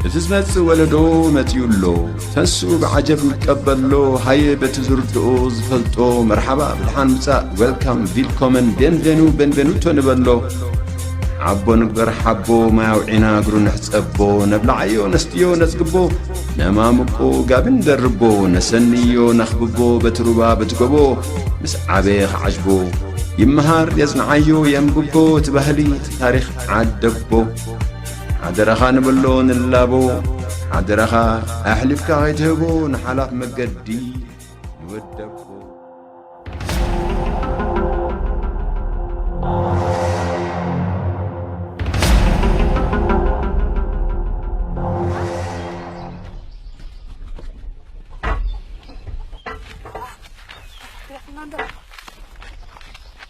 እቲ ዝመጽእ ወለዶ መጺኡ ኣሎ ተስኡ ብዓጀብ ንቀበሎ ሃየ በቲ ዝርድኦ ዝፈልጦ መርሓባ ብድሓን ምጻእ ዌልካም ቪልኮመን ቤንቬኑ ቤንቬኑቶ ንበሎ ዓቦ ንግበር ሓቦ ማይ ኣውዒና እግሩ ንሕጸቦ ነብላዓዮ ነስትዮ ነጽግቦ ነማምቆ ጋቢ ንደርቦ ነሰንዮ ነኽብቦ በቲ ሩባ በቲ ጎቦ ምስ ዓበየ ኸዓጅቦ ይመሃር የጽንዓዮ የንብቦ እቲ ባህሊ እቲ ታሪኽ ዓደቦ ሓደራኻ ንበሎ ንላቦ ሓደራኻ ኣሕሊፍካ ኸይትህቦ ንሓላፍ መገዲ ንወደቦ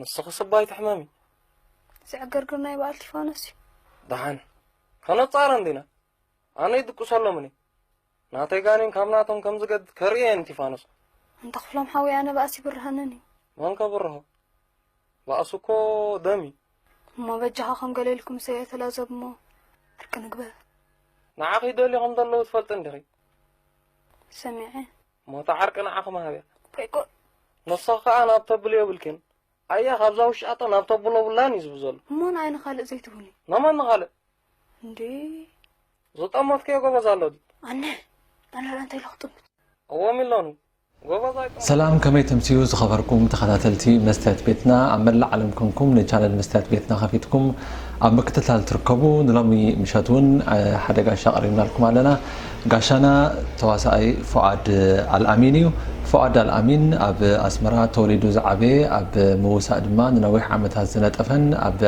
ንስኺ ስባ ኣይትሕመሚ። ዝዕግርግር ናይ በዓል ቲፋኖስ እዩ። ደሓን ከነጻረ እንዲና ኣነ ይድቅሰሎምን እዩ ናተይ ጋኔን ካብ ናቶም ከም ዝገድ ከርእየን ቲፋኖስ እንተ ክፍሎም ሓዊ ኣነ ባእሲ ይብርሃንን እዩ መን ከብርሆ ባእሱ እኮ ደም እዩ እሞ በጃኻ ከም ገሌልኩም ሰየተላዘብ እሞ ዕርቂ ንግበር ንዓኺ ደልዮም ከም ዘለዉ ትፈልጢ እንዲኺ ሰሚዐ ሞታ ዓርቂ ንዓኺ መሃብያ ከይኮን ንስኺ ከኣ ናብ ተብሊ የብልኪን ኣያ ካብዛ ውሻጠ ናብ ተብሎ ብላን እዩ ዝብ ዘሎ እሞ ንኣይ ንኻልእ ዘይትሁኒ ነመን ንኻልእ እንዴ ዝጠመትክዮ ጎበዝ ኣሎ ድዩ ኣነ ኣነ እንታይ ኢለ ክጥምት እዎ ሚሎኒ ጎበዝ ኣይጥመት ሰላም ከመይ ተምስዩ ዝኸበርኩም ተኸታተልቲ መስትያት ቤትና ኣብ መላእ ዓለም ኮንኩም ንቻነል መስትያት ቤትና ከፊትኩም ኣብ ምክትታል ትርከቡ ንሎሚ ምሸት እውን ሓደ ጋሻ ኣቕሪብናልኩም ኣለና ጋሻና ተዋሳኣይ ፉኣድ ኣልኣሚን እዩ። ፉኣድ ኣልኣሚን ኣብ ኣስመራ ተወሊዱ ዝዓበየ ኣብ ምውሳእ ድማ ንነዊሕ ዓመታት ዝነጠፈን ኣብ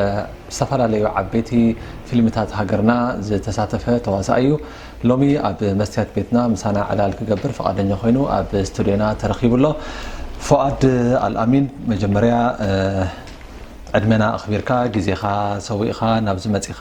ዝተፈላለዩ ዓበይቲ ፊልምታት ሃገርና ዝተሳተፈ ተዋሳኣይ እዩ። ሎሚ ኣብ መስትያት ቤትና ምሳና ዕላል ክገብር ፍቓደኛ ኮይኑ ኣብ ስቱድዮና ተረኺቡ ኣሎ። ፉኣድ ኣልኣሚን መጀመርያ ዕድመና ኣኽቢርካ ግዜኻ ሰዊእኻ ናብዚ መጺኻ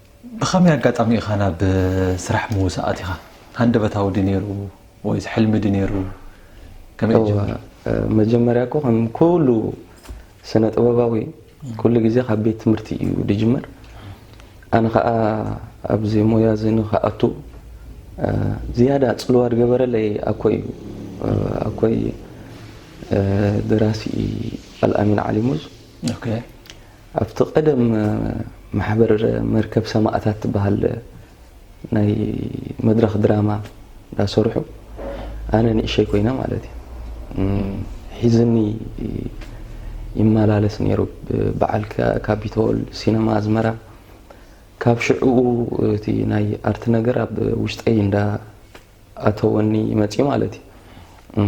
ብኸመይ ኣጋጣሚ ኢኻ ናብ ስራሕ ምውሳ ኣቲኻ? ሃንደበታዊ ድዩ ነይሩ ወይስ ሕልሚ ድዩ ነይሩ? ከመይ ጀሚሩ? መጀመርያ እኮ ከም ኩሉ ስነ ጥበባዊ ኩሉ ግዜ ካብ ቤት ትምህርቲ እዩ ዝጅመር። ኣነ ከኣ ኣብዚ ሞያ እዚ ንክኣቱ ዝያዳ ጽልዋ ዝገበረለይ ኣኮይ እዩ። ኣኮይ ደራሲ ኣልኣሚን ዓሊሙዝ። ኣብቲ ቀደም ማሕበር መርከብ ሰማእታት ትበሃል ናይ መድረኽ ድራማ እንዳሰርሑ ኣነ ንእሸይ ኮይነ ማለት እዩ ሒዝኒ ይመላለስ ነይሩ በዓል ካፒቶል ሲነማ ኣዝመራ ካብ ሽዕኡ እቲ ናይ ኣርት ነገር ኣብ ውሽጠይ እንዳ ኣተወኒ መፅዩ ማለት እዩ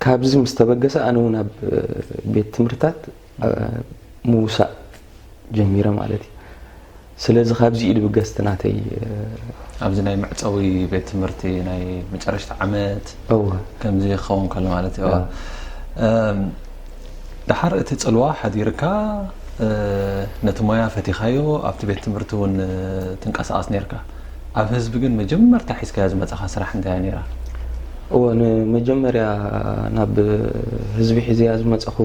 ካብዚ ምስ ተበገሰ ኣነ እውን ኣብ ቤት ትምህርትታት ምውሳእ ጀሚረ ማለት እዩ። ስለዚ ካብዚ እዩ ድብገስ እቲ ናተይ። ኣብዚ ናይ መዕጸዊ ቤት ትምህርቲ ናይ መጨረሽታ ዓመት እወ ከምዚ ክኸውን ከሎ ማለት እዩ። እወ። እም፣ ደሓር እቲ ጽልዋ ሓዲርካ እ፣ ነቲ ሞያ ፈቲኻዮ ኣብቲ ቤት ትምህርቲ እውን ትንቀሳቐስ ነይርካ። ኣብ ህዝቢ ግን መጀመርታ ሒዝካያ ዝመጻኻ ስራሕ እንታይ እያ ነይራ? እወ ንመጀመርያ ናብ ህዝቢ ሒዘያ ዝመጻኹ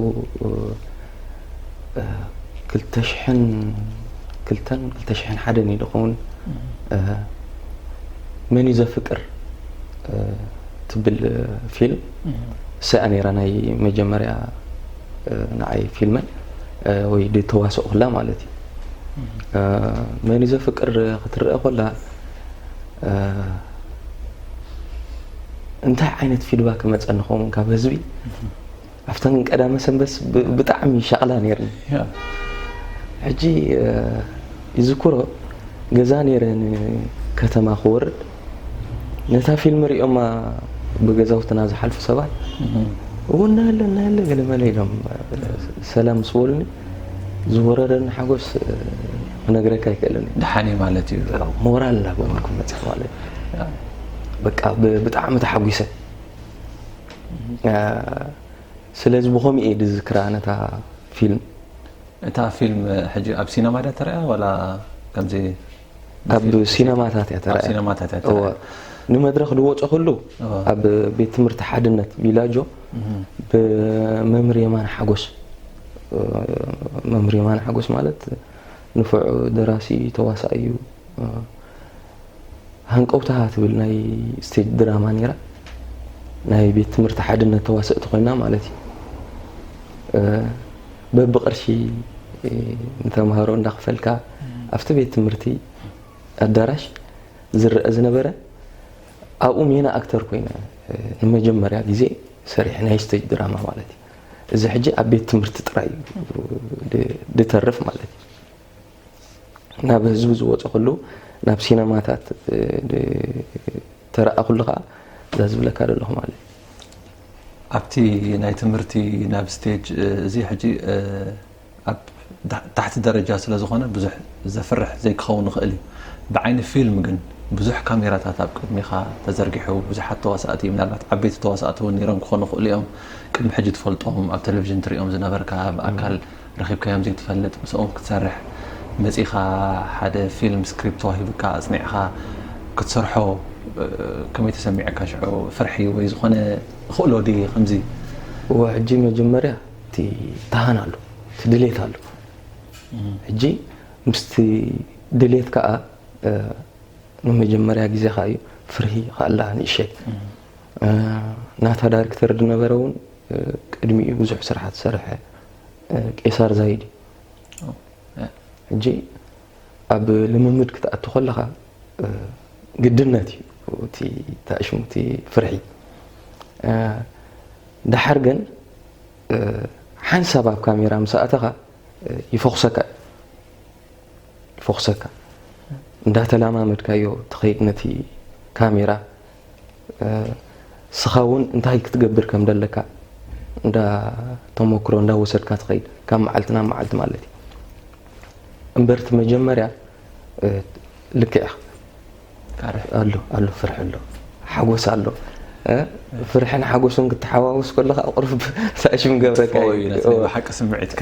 ክልተ ሽሕን ክልተን ክልተ ሽሕን ሓደን እዩ ዝኸውን መን እዩ ዘፍቅር ትብል ፊልም እሰያ ነይራ ናይ መጀመርያ ንዓይ ፊልመይ ወይ ድ ተዋስኦ ክላ ማለት እዩ መን እዩ ዘፍቅር ክትረአ ኮላ እንታይ ዓይነት ፊድባ ክመፀ ንኸውን ካብ ህዝቢ ኣብተን ቀዳመ ሰንበስ ብጣዕሚ ሻቕላ ነይርኒ ሕጂ ይዝክሮ ገዛ ነይረ ከተማ ክወርድ ነታ ፊልም ሪኦማ ብገዛውትና ዝሓልፉ ሰባት እዎ እናሃለ እናሃለ ገለመለ ኢሎም ሰላም ምስ በሉኒ ዝወረረኒ ሓጎስ ክነግረካ ኣይክእልን እዩ ድሓኒ ማለት እዩ ሞራል እናገበርኩ መፅእ ማለት እዩ በቃ ብጣዕሚ ተሓጒሰ ስለዚ ብኸምኡ እየ ዝዝክራ ነታ ፊልም እታ ፊልም ሕጂ ኣብ ሲነማ ድያ ተሪያ ዋላ ከምዚ ኣብ ሲነማታት እያ ተራእያ። ኣብ ሲነማታት እያ ተራእያ። እወ ንመድረኽ ዝወፀኹሉ ኣብ ቤት ትምህርቲ ሓድነት ቢላጆ ብመምህር የማነ ሓጎስ መምህር የማነ ሓጎስ ማለት ንፉዕ ደራሲ ተዋሳኢ እዩ ሃንቀውታ ትብል ናይ ስቴጅ ድራማ ነይራ ናይ ቤት ትምህርቲ ሓድነት ተዋሰእቲ ኮይና ማለት እዩ በብቅርሺ ንተምሃሮ እንዳኽፈልካ ኣብቲ ቤት ትምህርቲ ኣዳራሽ ዝረኣ ዝነበረ ኣብኡ ሜና ኣክተር ኮይነ ንመጀመርያ ግዜ ሰሪሐ ናይ ስተጅ ድራማ ማለት እዩ እዚ ሕጂ ኣብ ቤት ትምህርቲ ጥራይ ድተርፍ ማለት እዩ ናብ ህዝቢ ዝወጸ ኩሉ ናብ ሲነማታት ተረኣ ኩሉ ከኣ እዛ ዝብለካ ዘለኹ ማለት ኣብቲ ናይ ትምህርቲ ናብ ስቴጅ እዚ ሕጂ ኣብ ታሕቲ ደረጃ ስለ ዝኾነ ብዙሕ ዘፍርሕ ዘይክኸውን ይኽእል እዩ ብዓይኒ ፊልም ግን ብዙሕ ካሜራታት ኣብ ቅድሚኻ ተዘርጊሑ ብዙሓት ተዋሳእቲ ምናልባት ዓበይቲ ተዋሳእቲ እውን ነይሮም ክኾኑ ይኽእሉ እዮም ቅድሚ ሕጂ ትፈልጦም ኣብ ቴሌቭዥን ትሪኦም ዝነበርካ ብኣካል ረኺብካዮም ዘይትፈልጥ ምሳኦም ክትሰርሕ መጺኻ ሓደ ፊልም ስክሪፕት ተዋሂብካ ኣጽኒዕኻ ክትሰርሖ ከመይ ተሰሚዕካ ሽዑ ፍርሒ ወይ ዝኾነ እኽእሎ ድየ ከምዚ እወ ሕጂ መጀመርያ እቲ ታሃን ኣሎ እቲ ድሌት ኣሎ ሕጂ ምስቲ ድሌት ከዓ ንመጀመርያ ግዜ ከዓ እዩ ፍርሂ ከኣላ ንእሸ ናታ ዳይሬክተር ዝነበረ እውን ቅድሚኡ ብዙሕ ስርሓት ዝሰርሐ ቄሳር ዛይድ እዩ ሕጂ ኣብ ልምምድ ክትኣቱ ከለኻ ግድነት እዩ እቲ ተኣሽሙ እቲ ፍርሒ ድሓር ግን ሓንሳብ ኣብ ካሜራ ምስ ኣእተኻ ይፈኹሰካ ይፈኹሰካ እንዳተላማመድካዮ ትኸይድ ነቲ ካሜራ እስኻ እውን እንታይ ክትገብር ከም ደለካ እንዳ ተሞክሮ እንዳ ወሰድካ ትኸይድ ካብ መዓልቲ ናብ መዓልቲ ማለት እዩ እምበር እቲ መጀመርያ ልክዕ ኢኻ ኣሎ ኣሎ ፍርሒ ኣሎ ሓጎስ ኣሎ ፍርሕን ሓጎስን ክትሓዋውስ ከለካ ቁርብ ሳሽም ገብረካ ሓቂ ስምዒትካ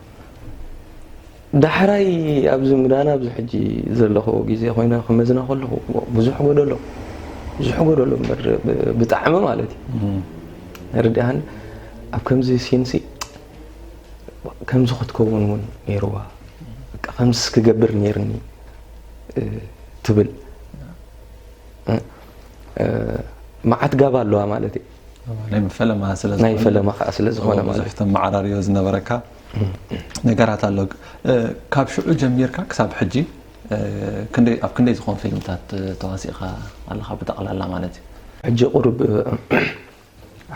ዳሕራይ ኣብዚ ምዳን ኣብዚ ሕጂ ዘለኹ ግዜ ኮይነ ክመዝና ከለኹ ብዙሕ ጎደሎ ብዙሕ ጎደሎ እምበር ብጣዕሚ ማለት እዩ ርድኣን ኣብ ከምዚ ሲንሲ ከምዚ ክትከውን እውን ነይርዋ ከምዚ ክገብር ነይርኒ ትብል መዓት ጋባ ኣለዋ ማለት እዩ ናይ ፈለማ ስለ ናይ ፈለማ ከዓ ስለ ዝኾነ ማለት ብዙሕ ተመዓራርዮ ዝነበረካ ነገራት ኣሎ ካብ ሽዑ ጀሚርካ ክሳብ ሕጂ ክንደይ ኣብ ክንደይ ዝኾኑ ፊልምታት ተዋሲእኻ ኣለኻ ብጠቕላላ ማለት እዩ ሕጂ ቁሩብ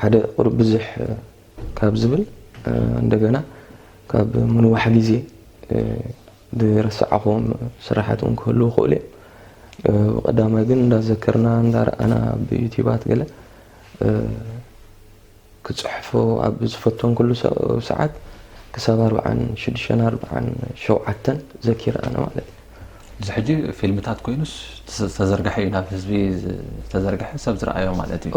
ሓደ ቁሩብ ብዙሕ ካብ ዝብል እንደገና ካብ ምንዋሕ ግዜ ዝረሳዕክዎም ስራሓት ውን ክህልዉ ይኽእሉ እዮም ብቀዳማይ ግን እንዳዘከርና እንዳረኣና ኣብ ዩቲባት ገለ ክጽሕፎ ኣብ ዝፈተንክሉ ሰዓት ክሳብ ኣርብዓን ሽዱሽተን ኣርብዓን ሸውዓተን ዘኪረ ኣነ ማለት እዩ እዚ ሕጂ ፊልምታት ኮይኑስ ዝተዘርግሐ እዩ ናብ ህዝቢ ዝተዘርግሐ ሰብ ዝረኣዮ ማለት እዩ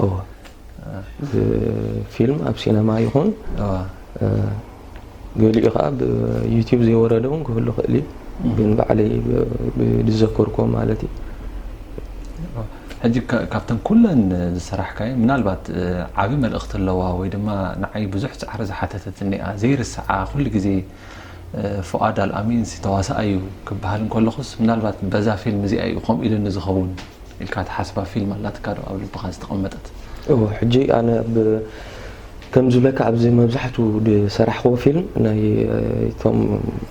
ፊልም ኣብ ሲነማ ይኹን ገሊኡ ከኣ ብ ዩቱብ ዘይወረደ ውን ክህሉ ይኽእል እዩ ግን ባዕለይ ብዝዘከርኩዎ ማለት እዩ። ሕጂ ካብተን ኩለን ዝሰራሕካየን ምናልባት ዓቢ መልእኽቲ ኣለዋ ወይ ድማ ንዓይ ብዙሕ ጻዕሪ ዝሓተተትኒ እያ ዘይርስዓ ኩሉ ግዜ ፉኣድ ኣልኣሚንሲ ተዋሳኣይ እዩ ክበሃል እንከለኹስ ምናልባት በዛ ፊልም እዚኣ እዩ ከምኡ ኢሉኒ ዝኸውን። ኢልካ ትሓስባ ፊልም ኣላትካ ዶ ኣብ ልብካ ዝተቀመጠት። እወ ሕጂ ኣነ ብ ከምዚ ዝብለካ ኣብዚ መብዛሕቱ ዝሰራሕክዎ ፊልም ናይ እቶም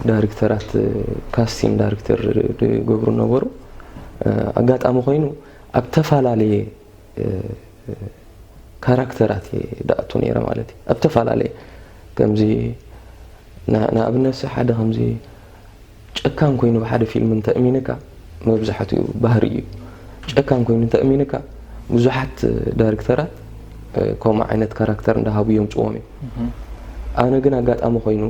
ዳሪክተራት ካስቲን ዳሪክተር ዝገብሩ ዝነበሩ ኣጋጣሚ ኮይኑ ኣብ ተፋላለየ ካራክተራት እየ ድኣቱ ነይረ ማለት እዩ ኣብ ተፋላለየ ከምዚ ንኣብነት ሲ ሓደ ከምዚ ጨካን ኮይኑ ብሓደ ፊልም እንተ እሚንካ መብዛሕትኡ ባህሪ እዩ ጨካን ኮይኑ እንተ እሚንካ ብዙሓት ዳይሬክተራት ከምኡ ዓይነት ካራክተር እንዳሃቡ የምፅዎም እዮም ኣነ ግን ኣጋጣሚ ኮይኑ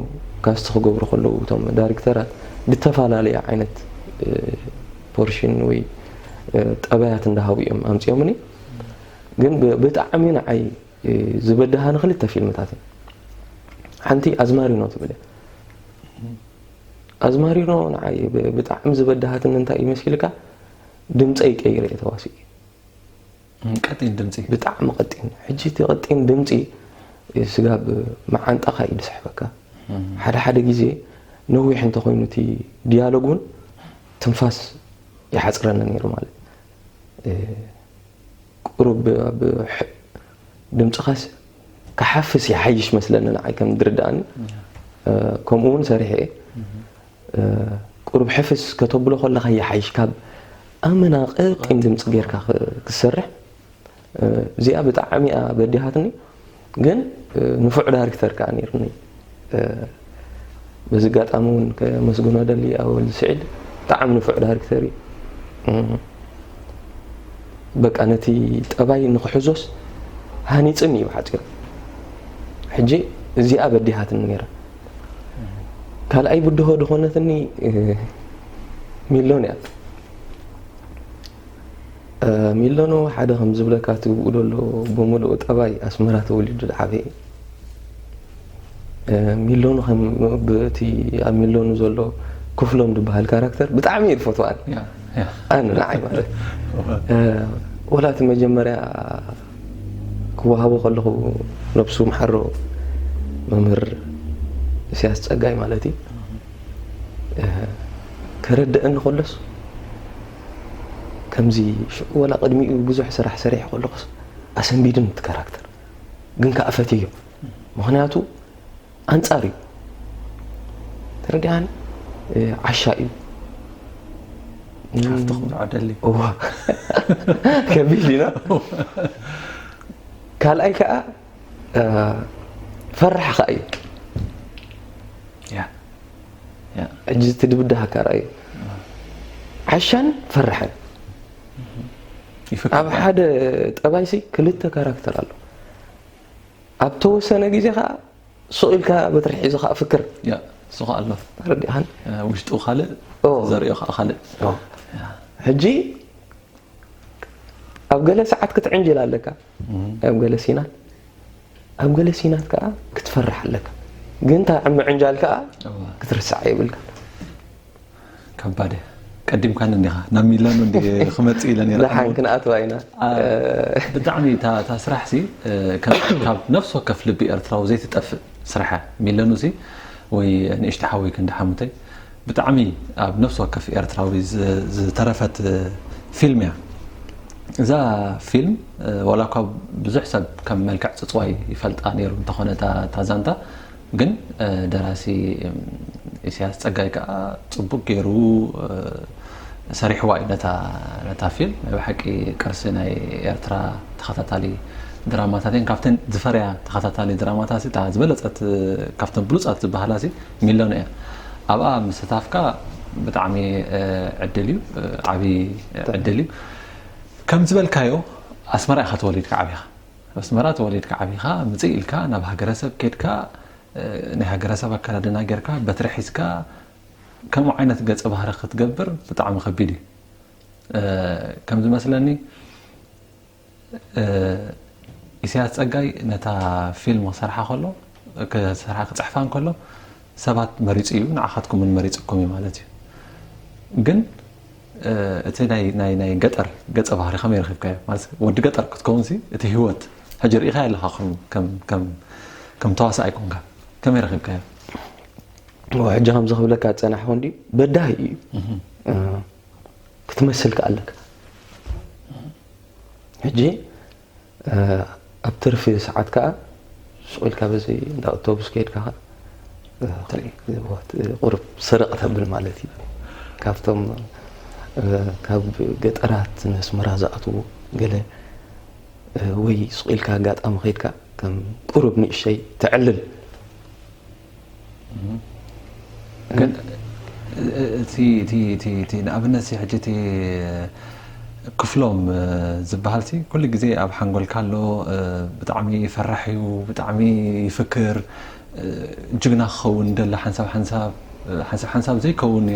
ካስቲ ክገብሩ ከለዉ እቶም ዳይሬክተራት ብተፈላለየ ዓይነት ፖርሽን ወይ ጠባያት እንዳሃቡ እዮም ኣምፅኦምኒ ግን ብጣዕሚ ንዓይ ዝበድሃኒ ክልተ ፊልምታት ሓንቲ ኣዝማሪኖ ትብል እያ ኣዝማሪኖ ንዓይ ብጣዕሚ ዝበደሃትኒ እንታይ እዩ መሲልካ ድምጸይ ቀይረ እየ ተዋሲኡ ቀጢን ድምጺ ብጣዕሚ ቀጢን ሕጂ እቲ ቀጢን ድምጺ ስጋብ መዓንጣኻ እዩ ዝስሕበካ ሓደ ሓደ ግዜ ነዊሕ እንተኮይኑ እቲ ዲያሎግ እውን ትንፋስ ይሓፅረኒ ነይሩ ማለት ቁሩብ ድምፅኻስ ክሓፍስ ይሓይሽ መስለኒ ንዓይ ከም ድርዳኣኒ ከምኡ ውን ሰሪሐ እየ ቁሩብ ሕፍስ ከተብሎ ከለካ ይሓይሽ ካብ ኣመና ቀጢን ድምፂ ጌርካ ክትሰርሕ እዚኣ ብጣዕሚ እያ በዲሃትኒ ግን ንፉዕ ዳሪክተር ከዓ ነይሩኒ በዚ ኣጋጣሚ እውን ከመስግኖ ደሊ ኣብ ወልድ ስዒድ ብጣዕሚ ንፉዕ ዳይሬክተር እዩ በቃ ነቲ ጠባይ ንክሕዞስ ሃኒፅን እዩ ብሓፂሩ ሕጂ እዚኣ በዲሃትኒ ነይራ ካልኣይ ብድሆ ድኾነትኒ ሚሎን እያ ሚሎኖ ሓደ ከም ዝብለካ እቲ ብኡ ዘሎ ብምልኡ ጠባይ ኣስመራ ተወሊዱ ዝዓበየ ሚሎኑ ብቲ ኣብ ሚሎኑ ዘሎ ክፍሎም ዝበሃል ካራክተር ብጣዕሚ እዩ ዝፈትዋን ኣነ ንዓይ ማለት ወላ እቲ መጀመርያ ክወሃቦ ከለኹ ነብሱ ምሓሮ መምህር እስያስ ጸጋይ ማለት እዩ ከረድአኒ ከሎስ ከምዚ ሽዑ ወላ ቅድሚኡ ብዙሕ ስራሕ ሰሪሐ ከለኹስ ኣሰንቢዱን እቲ ካራክተር ግን ከዓ ፈትዮ ምክንያቱ ኣንጻር እዩ ተረዲኣን ዓሻ እዩ ካብቲ ክምርዖ ደሊ እዋ ከቢድ ኢና ካልኣይ ከዓ ፈራሕ ከዓ እዩ ሕጂ እቲ ድብዳሃካ ረኣዮ ዓሻን ፈራሕን ኣብ ሓደ ጠባይሲ ክልተ ካራክተር ኣሎ ኣብ ተወሰነ ግዜ ከዓ ሱቕ ኢልካ በትሪ ሒዙ ከዓ ፍክር ሱቕ ኣሎ ረዲኻን ውሽጡ ካልእ ዘርእዮ ከዓ ካልእ ሕጂ ኣብ ገለ ሰዓት ክትዕንጅል ኣለካ ኣብ ገለ ሲና ኣብ ገለ ሲናት ከኣ ክትፈርሕ ኣለካ ግን እታ ኣብ ምዕንጃል ከኣ ክትርስዓ የብልካን። ከባድ እያ ቀዲምካን እንዲኻ ናብ ሚላኖ እንዲ ክመጽእ ኢለ ነይረ ደሓን ክንኣትዋ ኢና ብጣዕሚ እታ ስራሕ ሲ ካብ ነፍሲ ወከፍ ልቢ ኤርትራዊ ዘይትጠፍእ ስራሕ እያ ሚለኑ ሲ ወይ ንእሽቲ ሓወይ ክንዲ ሓሙተይ ብጣዕሚ ኣብ ነፍሲ ወከፍ ኤርትራዊ ዝተረፈት ፊልም እያ። እዛ ፊልም ዋላ እኳ ብዙሕ ሰብ ከም መልክዕ ጽጽዋይ ይፈልጣ ነይሩ እንተኾነ እታ ዛንታ ግን ደራሲ ኢሳያስ ጸጋይ ከኣ ጽቡቅ ገይሩ ሰሪሕዋ እዩ ነታ ፊልም። ናይ ብሓቂ ቅርሲ ናይ ኤርትራ ተኸታታሊ ድራማታት እየን። ካብተን ዝፈርያ ተኸታታሊ ድራማታትሲ እታ ዝበለጸት ካብተን ብሉጻት ዝበሃላሲ ሚሎን'ያ ኣብኣ ምስታፍካ ብጣዕሚ ዕድል እዩ ዓቢ ዕድል እዩ ከም ዝበልካዮ ኣስመራ ኢኻ ተወሊድካ ዓቢኻ ኣስመራ ተወሊድካ ዓቢኻ ምጽእ ኢልካ ናብ ሃገረሰብ ኬድካ ናይ ሃገረሰብ ኣከዳድና ጌርካ በትሪ ሒዝካ ከምኡ ዓይነት ገጸ ባህሪ ክትገብር ብጣዕሚ ከቢድ እዩ ከም ዝመስለኒ ኢሰያስ ጸጋይ ነታ ፊልም ክሰርሓ ከሎ ክሰርሓ ክጽሕፋ እንከሎ ሰባት መሪጹ እዩ ንዓኻትኩም ን መሪጽኩም እዩ ማለት እዩ ግን እቲ ናይ ናይ ናይ ገጠር ገጸ ባህሪ ከመይ ረኺብካዮ ማለት ወዲ ገጠር ክትከውን ሲ እቲ ህይወት ሕጂ ርኢኻዮ ኣለኻ ከም ከም ከም ከም ተዋሳእ ኣይኮንካ ከመይ ረኺብካዮ ሕጂ ከምዚ ክብለካ ዝጸናሕኩ እንዲ በዳሂ እዩ ክትመስል ከኣለካ ሕጂ ኣብ ትርፊ ሰዓት ከኣ ሱቕ ኢልካ በዚ እንዳ ኣውቶቡስ ከይድካ ከኣ ቁሩብ ስርቕ ተብል ማለት እዩ። ካብቶም ካብ ገጠራት ንኣስመራ ዝኣትዉ ገለ ወይ ሱቕ ኢልካ ኣጋጣሚ ከይድካ ከም ቁሩብ ንእሽተይ ተዕልል። ንኣብነት ክፍሎም ዝብሃል ኩሉ ግዜ ኣብ ሓንጎልካ ኣሎ ብጣዕሚ ፈራሕ እዩ ብጣዕሚ ይፍክር ጅግና ክኸውን ይደሊ ሓንሳብ ሓንሳብ ሓንሳብ ሓንሳብ ዘይከውን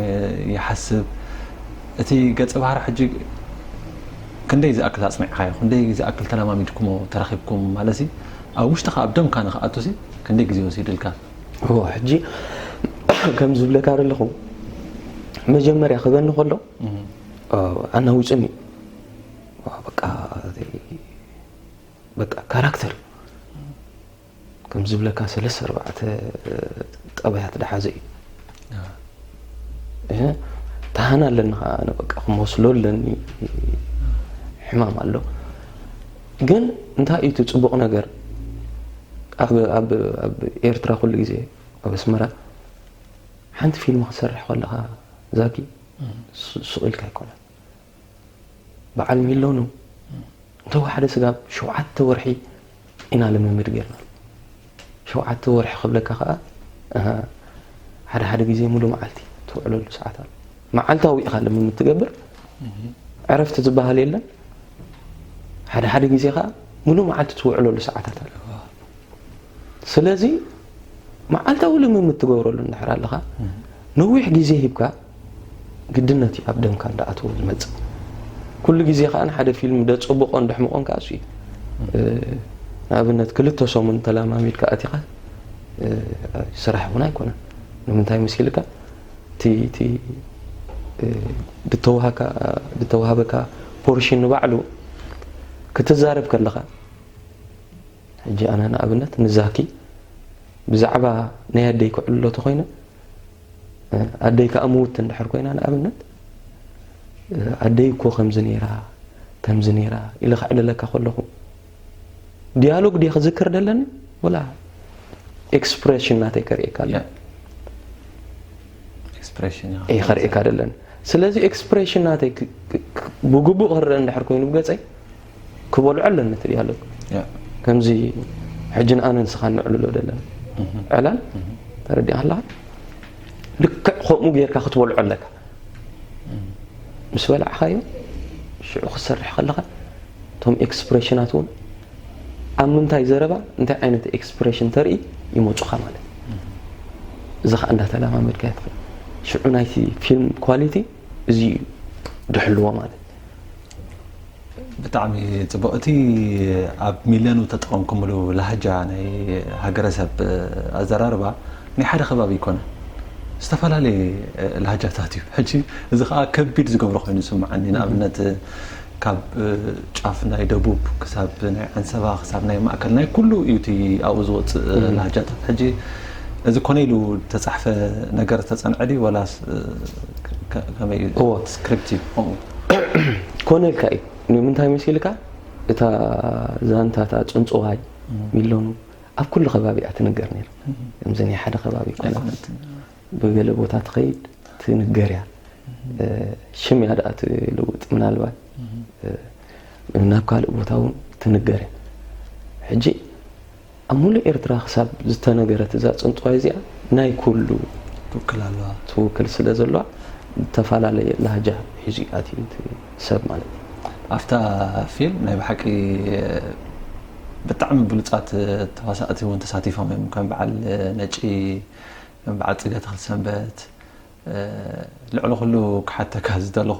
ይሓስብ እቲ ገፀ ባህሪ ሕጂ ክንደይ ዝኣክል ኣፅኒዕካዮ ክንደይ ዝኣክል ተለማሚድኩሞ ተራኺብኩም ማለት ኣብ ውሽጥኻ ኣብ ደምካ ንክኣቱ ክንደይ ግዜ ወሲድልካ? እዎ ሕጂ ከምዚ ዝብለካ ዘለኹ መጀመርያ ክበኒ ከሎ ኣናዊጹኒ በቃ ካራክተር ከምዚ ዝብለካ ሰለስተ ኣርባዕተ ጠባያት ዝሓዘ እዩ። ደሃና ኣለኒ ከዓ ኣነ በቃ ክመስሎ ኣለኒ ሕማም ኣሎ ግን እንታይ እዩ እቲ ፅቡቕ ነገር ኣብ ኤርትራ ኩሉ ግዜ ኣብ ኣስመራ ሓንቲ ፊልም ክሰርሕ ከለካ ዛጊ ሱቕ ኢልካ ኣይኮነን በዓል ሚሎኑ እንተወሓደ ስጋብ ሸውዓተ ወርሒ ኢና ልምምድ ጌርና ሸውዓተ ወርሒ ክብለካ ከዓ ሓደ ሓደ ግዜ ሙሉ መዓልቲ ትውዕለሉ ሰዓት ኣሎ መዓልታዊ ኢኻ ልምምድ ትገብር ዕረፍቲ ዝበሃል የለን ሓደ ሓደ ግዜ ከዓ ሙሉ መዓልቲ ትውዕለሉ ሰዓታት ኣሎ ስለዚ መዓልታዊ ልምምድ ትገብረሉ እንድሕር ኣለኻ ነዊሕ ግዜ ሂብካ ግድነት እዩ ኣብ ደምካ እንዳኣተወ ዝመጽእ ኩሉ ግዜ ከኣ ሓደ ፊልም ደጽቡቆን ደሕምቆን ከኣ እሱ እዩ ንኣብነት ክልተ ሰሙን ተላማሚድካ ኣቲኻ ስራሕ እውን ኣይኮነን ንምንታይ መሲልካ እቲ ዝተዋሃበካ ፖርሽን ንባዕሉ ክትዛረብ ከለኻ ሕጂ ኣነ ንኣብነት ንዛኪ ብዛዕባ ናይ ኣደይ ክዕልሎ ተኮይነ ኣደይ ከኣ ምውቲ እንድሕር ኮይና ንኣብነት ኣደይ እኮ ከምዚ ነይራ ከምዚ ነይራ ኢለ ከዕልለካ ከለኹ ዲያሎግ ድየ ክዝክር ደለኒ ወላ ኤክስፕሬሽን ናተይ ከርእየካ ኣለኒ እየ ከርእየካ ደለኒ ስለዚ ኤክስፕሬሽን ናተይ ብግቡእ ክረአ እንድሕር ኮይኑ ብገፀይ ክበልዖ ኣለኒ ትብል ኣሎ ከምዚ ሕጂ ንኣነ ንስኻ ንዕልሎ ዘለና ዕላል ተረዲኻ ኣለኻ ልክዕ ከምኡ ጌርካ ክትበልዖ ኣለካ ምስ በላዕኻዮ ሽዑ ክትሰርሕ ከለኻ እቶም ኤክስፕሬሽናት እውን ኣብ ምንታይ ዘረባ እንታይ ዓይነት ኤክስፕሬሽን ተርኢ ይመፁኻ ማለት እዚ ከዓ እንዳተለማመድካ ይትኽእል ሽዑ ናይቲ ፊልም ኳሊቲ እዚ እዩ ድሕልዎ ማለት ብጣዕሚ ጽቡቅ እቲ ኣብ ሚልዮን ዝተጠቀምኩምሉ ላህጃ ናይ ሃገረሰብ ኣዘራርባ ናይ ሓደ ከባቢ ኣይኮነን ዝተፈላለየ ላህጃታት እዩ ሕጂ እዚ ከኣ ከቢድ ዝገብሮ ኮይኑ ዝስምዓኒ ንኣብነት ካብ ጫፍ ናይ ደቡብ ክሳብ ናይ ዓንሰባ ክሳብ ናይ ማእከል ናይ ኩሉ እዩ እቲ ኣብኡ ዝወጽእ ላህጃታት ሕጂ እዚ ኮነ ኢሉ ተጻሕፈ ነገር ዝተጸንዐ ድዩ ወላስ ከመይ ስክሪፕት እዩ ኮነልካ እዩ ንምንታይ መሲልካ እታ ዛንታታ ፅንፅዋይ ሚሎኑ ኣብ ኩሉ ከባቢ እያ ትንገር ነይራ ከምዚ ናይ ሓደ ከባቢ ኮነት ብገለ ቦታ ትኸይድ ትንገር እያ ሽም እያ ደኣ ትልውጥ ምናልባት ናብ ካልእ ቦታ እውን ትንገር እያ ሕጂ ኣብ ሙሉእ ኤርትራ ክሳብ ዝተነገረት እዛ ጽንጽዋይ እዚኣ ናይ ኩሉ ትውክል ኣለዋ። ትውክል ስለ ዘሎዋ ዝተፈላለየ ላህጃ ሒዙ እዩ ኣትዩ እቲ ሰብ ማለት እዩ። ኣብታ ፊልም ናይ ብሓቂ ብጣዕሚ ብሉጻት ተዋሳእቲ ውን ተሳቲፎም እዮም ከም በዓል ነጪ ከም በዓል ጽገ ተኽልሰንበት ልዕሊ ኩሉ ክሓተካ ዝደለኹ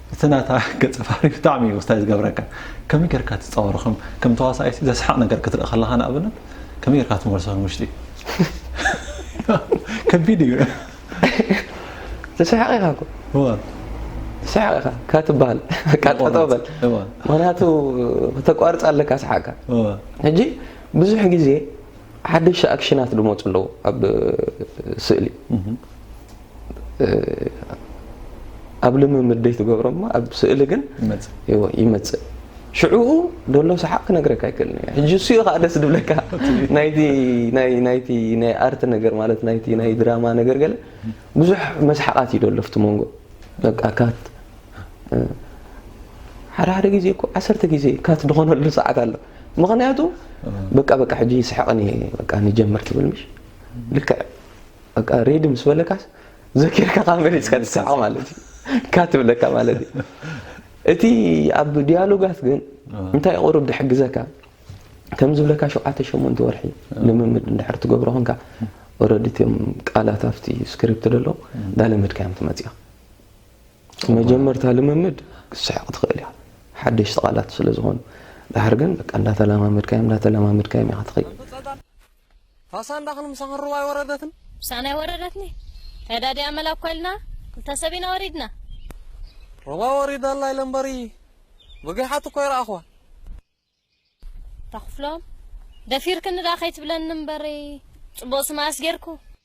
እቲ ናታ ገጸ ባህሪ ብጣዕሚ እዩ ወስታይ ዝገብረካ ከመይ ጌርካ ትጻወሮ ከም ከም ተዋሳኣይሲ ዘስሕቕ ነገር ክትርኢ ከለኻ ንኣብነት ከመይ ጌርካ ትመልሶ ንውሽጢ ከቢድ እዩ ትስሕቕ ኢኻ እኮ ትስሕቕ ኢኻ ከትበሃል በቃ ጠጠው በል ምክንያቱ ከተቋርጽ ኣለካ ስሓቕካ ሕጂ ብዙሕ ግዜ ሓደሽቲ ኣክሽናት ዝመፁ ኣለዉ ኣብ ስእሊ ኣብ ልምምድ ዘይትገብሮ እሞ ኣብ ስእሊ ግን ይመፅእ ሽዑኡ ደሎ ሰሓቅ ክነግረካ ኣይክእልን እየ ሕጂ እሱኡ ከዓ ደስ ድብለካ ናይቲ ናይቲ ናይ ኣርት ነገር ማለት ናይቲ ናይ ድራማ ነገር ገለ ብዙሕ መስሓቃት እዩ ደሎ ኣብቲ መንጎ በቃ ካት ሓደ ሓደ ግዜ እኮ ዓሰርተ ግዜ ካት ዝኾነሉ ሰዓት ኣሎ ምክንያቱ በቃ በቃ ሕጂ ይስሕቅን እየ በቃ ንጀምር ትብል ምሽ ልክዕ በቃ ሬድ ምስ በለካስ ዘኪርካ ካብ መሪፅካ ትስዕቕ ማለት እዩ ካ ትብለካ ማለት እዩ እቲ ኣብ ዲያሎጋት ግን እንታይ ቁሩብ ድሕግዘካ ከም ዝብለካ ሸውዓተ ሸሞንተ ወርሒ ልምምድ እንድሕር ትገብሮ ኮንካ ኦረዲ እትም ቃላት ኣብቲ ስክሪፕት ደሎ ዳለመድካዮም ትመፅያ መጀመርታ ልምምድ ክስሕቕ ትኽእል እያ ሓደሽቲ ቃላት ስለ ዝኾኑ ድሓር ግን በቃ እንዳተለማመድካዮም እንዳተለማመድካዮም ኢኻ ትኸይድ ፋሳ እንዳኽን ምሳኽን ሩባ ኣይወረደትን? ምሳና ኣይወረደትኒ። ተዳዲ ኣመል ኣኮልና ክልተ ሰብ ኢና ወሪድና። ሩባ ወሪዳ ኣላ ኢለ እምበሪ ብጊሓት እኮ ኣይረኣኽዋን። ኣታ ክፍሎም ደፊርክኒ ደኣ ከይትብለኒ እምበሪ ጽቡቕ ስምኣስ ጌርኩ።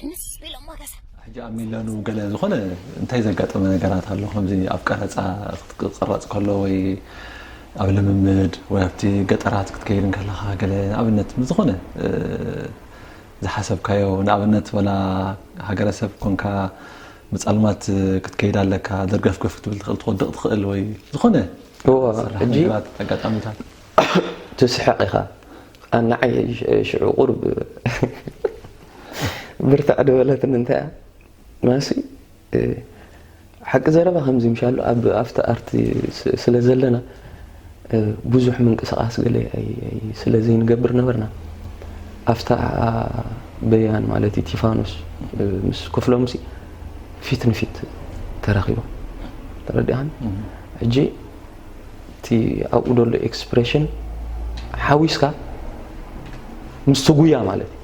ህንስ ቢሎሞ ገዛ። ሕጂ ኣብ ሚለኑ ገለ ዝኾነ እንታይ ዘጋጠመ ነገራት ኣሎ ከምዚ ኣብ ቀረጻ ክትቅረጽ ከሎ ወይ ኣብ ልምምድ ወይ ኣብቲ ገጠራት ክትከይድ እንከለኻ ገለ ንኣብነት ምስ ዝኾነ ዝሓሰብካዮ ንኣብነት ወላ ሃገረሰብ ኮንካ ምጻልማት ክትከይድ ኣለካ ደርገፍገፍ ክትብል ትኽእል ትወድቕ ትኽእል ወይ ዝኾነ ሕጂ ኣጋጣሚታት ትስሕቕ ኢኻ ኣን ንዓይ ሽዑ ቁሩብ ብርትዕ ዶ በለትኒ እንታይ እያ ማሲ ሓቂ ዘረባ ከምዚ ምሻሉ ኣብ ኣብቲ ኣርቲ ስለ ዘለና ብዙሕ ምንቅስቃስ ገለ ስለ ዘይንገብር ነበርና ኣብታ በያን ማለት እዩ ቲፋኖስ ምስ ክፍሎም ሲ ፊት ንፊት ተራኺቦም ተረዲኣን ሕጂ እቲ ኣብኡ ዘሎ ኤክስፕሬሽን ሓዊስካ ምስቲ ጉያ ማለት እዩ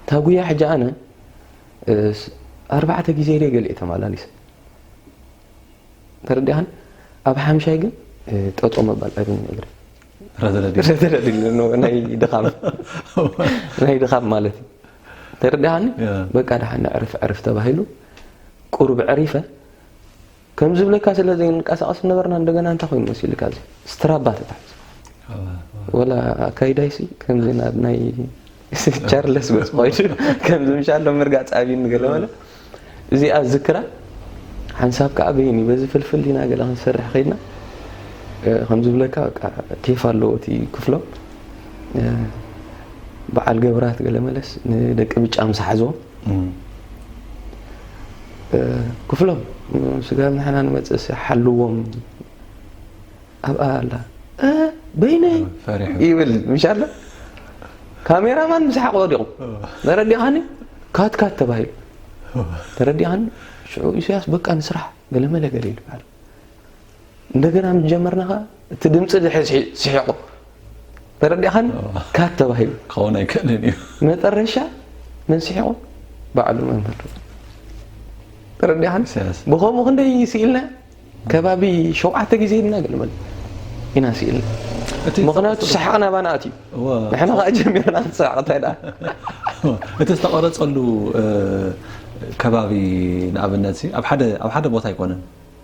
እታ ጉያ ሕጂ ኣነ ኣርባዕተ ግዜ ደይ ገሊኤ ተመላሊሰ ተረዲኣን ኣብ ሓምሻይ ግን ጠጦ መባል ኣይብን እግሪ ናይ ድኻም ናይ ድኻም ማለት እዩ ተረዲኣኒ በቃ ድሓ ንዕርፍ ዕርፍ ተባሂሉ ቁሩብ ዕሪፈ ከም ዝብለካ ስለ ዘይንቃሳቀስ ዝነበርና እንደገና እንታይ ኮይኑ መሲልካ እዚ ስትራባ ተታሒዙ ወላ ኣካይዳይሲ ከምዚ ናብ ናይ ቻርለስ ገጽ ኮይኑ ከምዚ ምሻሎ ምርጋጽ ኣብይኒ ገለ በለ እዚኣ ዝክራ ሓንሳብ ከዓ በይኒ በዚ ፍልፍል ኢና ገለ ክንሰርሕ ከይድና ከም ዝብለካ በቃ ቴፍ ኣለዎ እቲ ክፍሎም በዓል ገብራት ገለ መለስ ንደቂ ብጫ ምስ ሓዝዎም ክፍሎም ስጋብ ንሕና ንመፅእሲ ሓልዎም ኣብኣ ኣላ በይነይ ይብል ምሻ ኣሎ ካሜራማን ምስ ሓቕ ወዲቑ ተረዲኻኒ ካትካት ተባሂሉ ተረዲኻኒ ሽዑ ኢሳያስ በቃ ንስራሕ ገለመለ ገለ ይልበሃል እንደገና ምስ ጀመርና ከኣ እቲ ድምጺ ድሕሪ ስሒቑ ተረዲእኻኒ ካት ተባሂሉ ክኸውን ኣይክእልን እዩ መጠረሻ መን ስሒቑ ባዕሉ መምህር ተረዲእኻኒ ብከምኡ ክንደይ ስኢልና ከባቢ ሸውዓተ ግዜ ኢልና ገልመል ኢና ስኢልና ምክንያቱ ሰሓቕና ባና ኣትዩ ንሕና ከዓ ጀሚርና ንሰሓቕ እንታይ ደኣ እቲ ዝተቐረፀሉ ከባቢ ንኣብነት ኣብ ሓደ ቦታ ኣይኮነን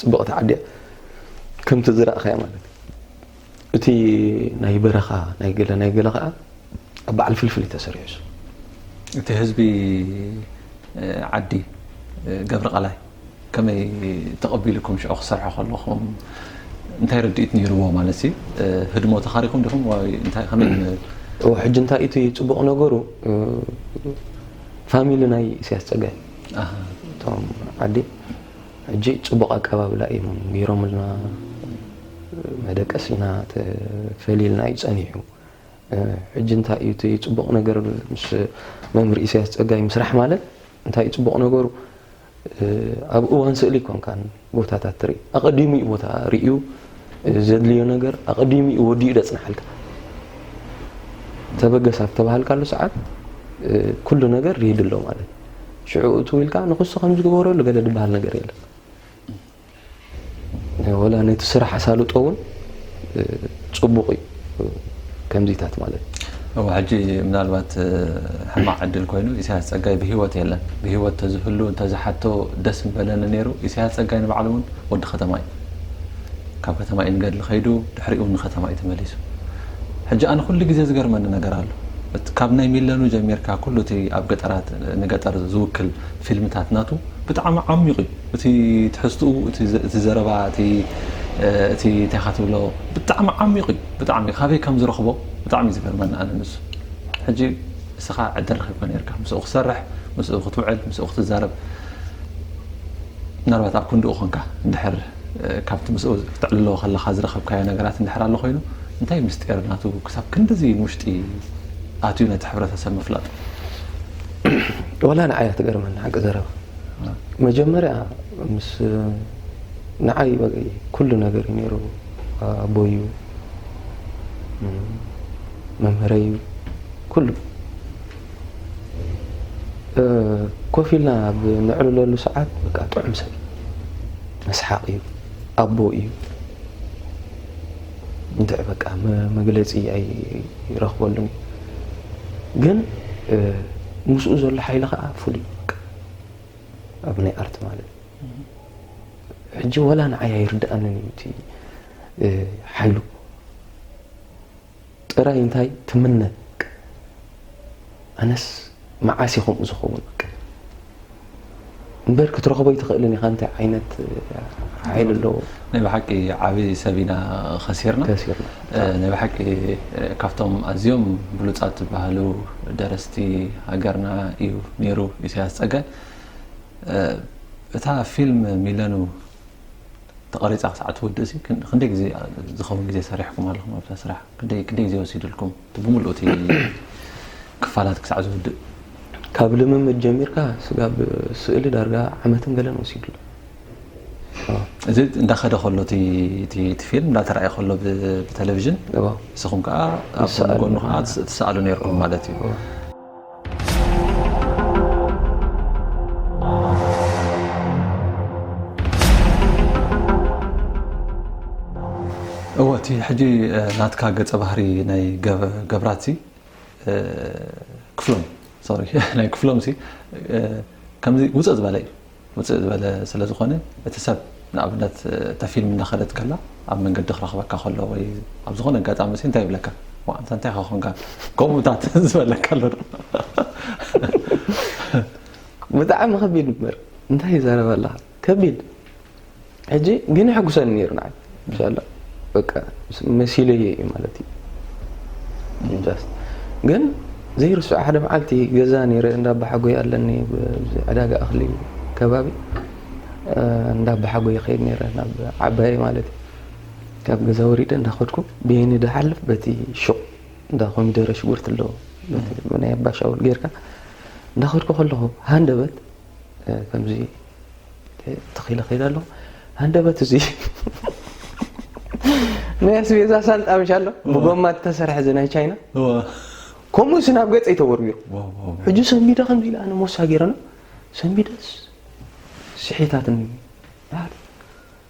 ጽብቕቲ ዓዲ እያ ከምቲ ዝረእኻያ ማለት እዩ እቲ ናይ በረኻ ናይ ገለ ናይ ገለ ከዓ ኣብ በዓል ፍልፍል እዩ ተሰሪዑ እሱ እቲ ህዝቢ ዓዲ ገብረ ቃላይ ከመይ ተቐቢልኩም ሽዑ ክሰርሖ ከለኹም እንታይ ርድኢት ነይርዎ ማለት ሲ ህድሞ ተኻሪኹም ዲኹም ወይ እንታይ ከመይ እዎ ሕጂ እንታይ እቲ ፅቡቕ ነገሩ ፋሚሊ ናይ ኢሳያስ ፀጋይ እቶም ዓዲ ሕጂ ጽቡቕ ኣቀባብላ ኢዮም ጌሮምልና፣ መደቀሲና ተፈሊልና ኢዩ ጸኒሑ። ሕጂ እንታይ ኢዩ እቲ ጽቡቕ ነገር ምስ መምህር ኢሰያስ ጸጋይ ምስራሕ ማለት እንታይ ኢዩ ጽቡቕ ነገሩ ኣብ እዋን ስእሊ ኣይኮንካን ቦታታት ትርኢ ኣቐዲሙ ኢዩ ቦታ ርእዩ ዘድልዮ ነገር ኣቐዲሙ እዩ ወዲኡ ደጽንሓልካ ተበገስ ኣብ ተባሃልካሉ ሰዓት ኩሉ ነገር ርሂድ ኣሎ ማለት ሽዑ እቱ ኢልካ ንክሱ ከም ዝገበረሉ ገለ ዝበሃል ነገር የለን ወላ ነቲ ስራሕ ኣሳልጦ እውን ፅቡቕ እዩ ከምዚታት ማለት እው ሕጂ ምናልባት ሕማቅ ዕድል ኮይኑ ኢሳያስ ጸጋይ ብሂወት የለን ብሂወት ተዝህሉ እንተዝሓቶ ደስ ምበለኒ ነይሩ ኢሳያስ ጸጋይ ንባዕሉ እውን ወዲ ከተማ እዩ ካብ ከተማ እዩ ንገድሊ ከይዱ ድሕሪኡ እውን ንከተማ እዩ ተመሊሱ ሕጂ ኣነ ኩሉ ግዜ ዝገርመኒ ነገር ኣሎ ካብ ናይ ሚለኑ ጀሚርካ ኩሉ እቲ ኣብ ገጠራት ንገጠር ዝውክል ፊልምታት ናቱ ብጣዕሚ ዓሚቕ እዩ እቲ ትሕዝትኡ እቲ እቲ ዘረባ እቲ እቲ እንታይ ኢኻ ትብሎ ብጣዕሚ ዓሚቕ እዩ ብጣዕሚ ካበይ ከም ዝረኽቦ ብጣዕሚ እዩ ዝገርመኒ ኣነ ንሱ ሕጂ እስኻ ዕድል ረኺብካ ኔርካ ምስኡ ክትሰርሕ ምስኡ ክትውዕል ምስኡ ክትዛረብ ምናልባት ኣብ ክንድኡ ኮንካ እንድሕር ካብቲ ምስኡ ክተዕልሎ ከለኻ ዝረኸብካዮ ነገራት እንድሕር ኣሎ ኮይኑ እንታይ ምስጢር ናቱ ክሳብ ክንድዚ ንውሽጢ ኣትዩ ነቲ ሕብረተሰብ ምፍላጥ ወላ ንዓይ እያ ትገርመኒ ሓቂ ዘረባ መጀመርያ ምስ ንዓይ ኩሉ ነገር እዩ ነይሩ ኣቦይ እዩ መምህረይ እዩ ኩሉ ኮፍ ኢልና ኣብ ንዕልለሉ ሰዓት በቃ ጥዑም ሰብ መስሓቅ እዩ ኣቦ እዩ እንድዕ በቃ መግለፂ ኣይረኽበሉን ግን ምስኡ ዘሎ ሓይሊ ከዓ ፍሉይ ኣብ ናይ ኣርት ማለት ሕጂ ወላ ንዓይ ኣይርድኣንን እዩ እቲ ሓይሉ ጥራይ እንታይ ትምነ ኣነስ መዓስ እዩ ከምኡ ዝኸውን እምበር ክትረኽቦ ይትኽእልን ኢኻ እንታይ ዓይነት ሓይሊ ኣለዎ ናይ ብሓቂ ዓብዪ ሰብ ኢና ከሲርና ናይ ብሓቂ ካብቶም ኣዝዮም ብሉጻት ዝበሃሉ ደረስቲ ሃገርና እዩ ኔሩ ኢሰያስ ጸገ እታ ፊልም ሚለኑ ተቐሪጻ ክሳዕ ትውድእ ሲ ክንደይ ግዜ ዝኸውን ግዜ ሰሪሕኩም ኣለኹም ኣብዛ ስራሕ ክንደይ ክንደይ ግዜ ወሲድልኩም እቲ ብምሉእ እቲ ክፋላት ክሳዕ ዝውድእ ካብ ልምምድ ጀሚርካ ስጋብ ስእሊ ዳርጋ ዓመትን ገለን ወሲድሉ እዚ እንዳኸደ ከሎ እቲ ፊልም እንዳተራእየ ከሎ ብተለቪዥን ንስኹም ከዓ ኣብ ጎኑ ከዓ ትሰኣሉ ነርኩም ማለት እዩ እወ እቲ ሕጂ ናትካ ገፀ ባህሪ ናይ ገብራት ክፍሎም ናይ ክፍሎም ከምዚ ውፅእ ዝበለ እዩ ውጽእ ዝበለ ስለ ዝኾነ እቲ ሰብ ንኣብነት እታ ፊልም እናኸደት ከላ ኣብ መንገዲ ክረኽበካ ከሎ ወይ ኣብ ዝኾነ ኣጋጣሚ ሲ እንታይ ይብለካ ዋእ ኣንታ እንታይ ኢኻ ኮንካ ከምኡታት ዝበለካ ኣሎ ዶ ብጣዕሚ ከቢድ እምበር እንታይ ይዛረብ ኣለኻ ከቢድ ሕጂ ግን የሕጉሰኒ ነይሩ ንዓይ ብዛላ በቃ መሲለየ እዩ ማለት እዩ ጃስት ግን ዘይርስዖ ሓደ መዓልቲ ገዛ ነይረ እንዳባሓጎይ ኣለኒ ዕዳጋ እኽሊ ከባቢ እንዳባሓጎይ ይኸይድ ነይረ ናብ ዓባየ ማለት እዩ ካብ ገዛ ወሪደ እንዳኸድኩ ብየኒ ድሓልፍ በቲ ሹቕ እንዳ ኮሚደረ ሽጉርቲ ኣለዎ ናይ ኣባሻውል ጌርካ እንዳኸድኩ ከለኹ ሃንደበት ከምዚ ተኺለ ከይደ ኣሎ ሃንደበት እዚ ናይ ኣስቤዛ ሳንጣ ምሽ ኣሎ ብጎማ ተሰርሐ እዚ ናይ ቻይና ከምኡ ሲ ናብ ገፀ ይተወርቢሩ ሕጂ ሰንቢደ ከምዚ ኢለ ኣነ ሞሳ ገይረና ሰንቢደስ ስሒታትኒ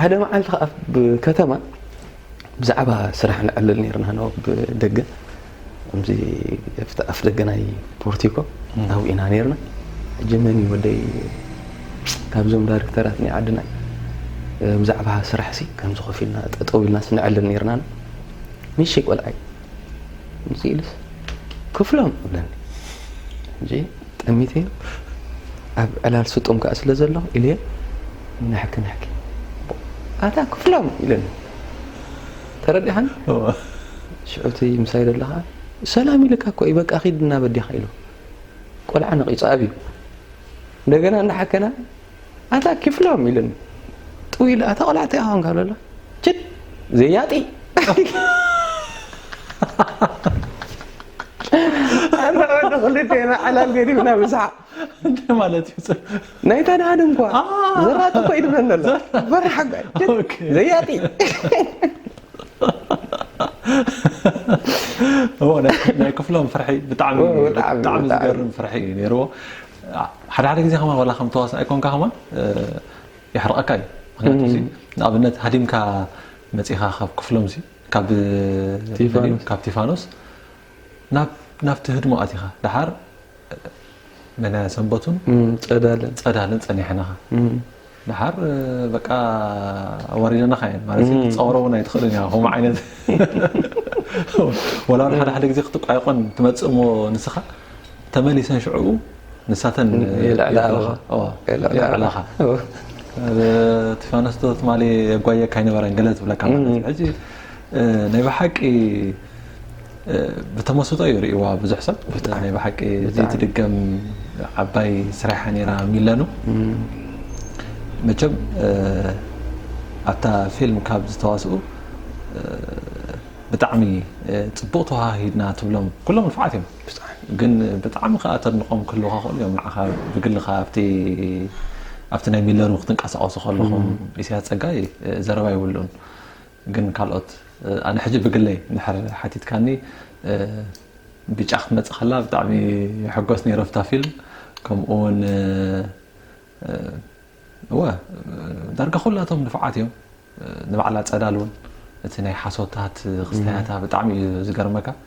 ሓደ መዓልቲ ከኣ ኣብ ከተማ ብዛዕባ ስራሕ ንዕልል ነርና ን ኣብ ደገ ከምዚ ኣብቲ ኣፍ ደገ ናይ ፖርቲኮ ኣብኡ ኢና ነርና ሕጂ መን እዩ ወደይ ካብዞም ዳይሬክተራት ናይ ዓድና ብዛዕባ ስራሕሲ ከምዚ ኮፍ ኢልና ጠጠው ኢልናስ ንዕልል ነርና ንእሽተይ ቆልዓይ ምስ ኢሉስ ክፍሎም እብለኒ ጠሚተዮ ኣብ ዕላል ስጡም ከኣ ስለ ዘለኹ ኢለዮ ንሕኪ ንሕኪ ኣታ ክፍሎም ኢለኒ ተረዲኻኒ ሽዑ እቲ ምሳይ ዘሎ ከኣ ሰላም ኢልካ እኮ እዩ በቃ ኺድ እናበዲኻ ኢሉ ቆልዓ ነቒጹ ኣብዩ እንደገና እናሓከና ኣታ ኪፍሎም ኢሉኒ ጥው ኢሉ ኣታ ቆልዓ እንታይ ኮንካ በሎ ችድ ዘያጢ ንዕዱ ክልቴና ሓላል ገዲፍና ብስሓ እንታይ ማለት እዩ ናይታ ድሃድ እንኳ ዘራጢ እኮ ይድብለኒ ኣሎ በራሕ ዘያጢ ናይ ክፍሎም ፍርሒ ብጣዕሚ ዝገርም ፍርሒ እዩ ነይርዎ ሓደ ሓደ ግዜ ከማን ዋላ ከም ተዋሳኣይ ኮንካ ከማን የሕርቐካ እዩ ምክንያቱ ሲ ንኣብነት ሃዲምካ መጺኻ ካብ ክፍሎም ሲ ካብ ካብ ቲፋኖስ ናብቲ ህድሞ ኣቲኻ ድሓር መናያ ሰንበቱን ጸዳልን ጸኒሕናኻ ደሓር በቃ ኣዋሪደናኻ እየን ማለት እዩ ክትፃወሮ እውን ኣይትኽእልን እያ ከምኡ ዓይነት ወላ ሓደ ሓደ ግዜ ክትቋየቆን ትመፅእ እሞ ንስኻ ተመሊሰን ሽዕኡ ንሳተን የልዕላኻ እቲ ፋኖስ ዶ ትማሊ የጓየካ ኣይነበረን ገለ ትብለካ ማለት እዩ ሕጂ ናይ ብሓቂ ብተመስጦ እዩ ርእዋ ብዙሕ ሰብ ናይ ብሓቂ ዘይትድገም ዓባይ ስራሓ ነራ ሚለኑ መቸም ኣብታ ፊልም ካብ ዝተዋስኡ ብጣዕሚ ፅቡቅ ተዋሃሂድና ትብሎም ኩሎም ንፍዓት እዮም ግን ብጣዕሚ ከዓ ተድንቆም ክህልውካ ክእሉ እዮም ንዓኻ ብግልኻ ኣብቲ ኣብቲ ናይ ሚለኑ ክትንቀሳቀሱ ከለኹም ኢሳያስ ፀጋይ ዘረባ ይብሉን ግን ካልኦት ኣነ ሕጂ ብግለይ እንድሕር ሓቲትካኒ ቢጫ ክትመጽእ ከላ ብጣዕሚ ይሕጎስ ነይረ ኣብታ ፊልም ከምኡ ውን እወ ዳርጋ ኩላቶም ንፉዓት እዮም ንባዕላ ጸዳል ውን እቲ ናይ ሓሶታት ክስታያታ ብጣዕሚ እዩ ዝገርመካ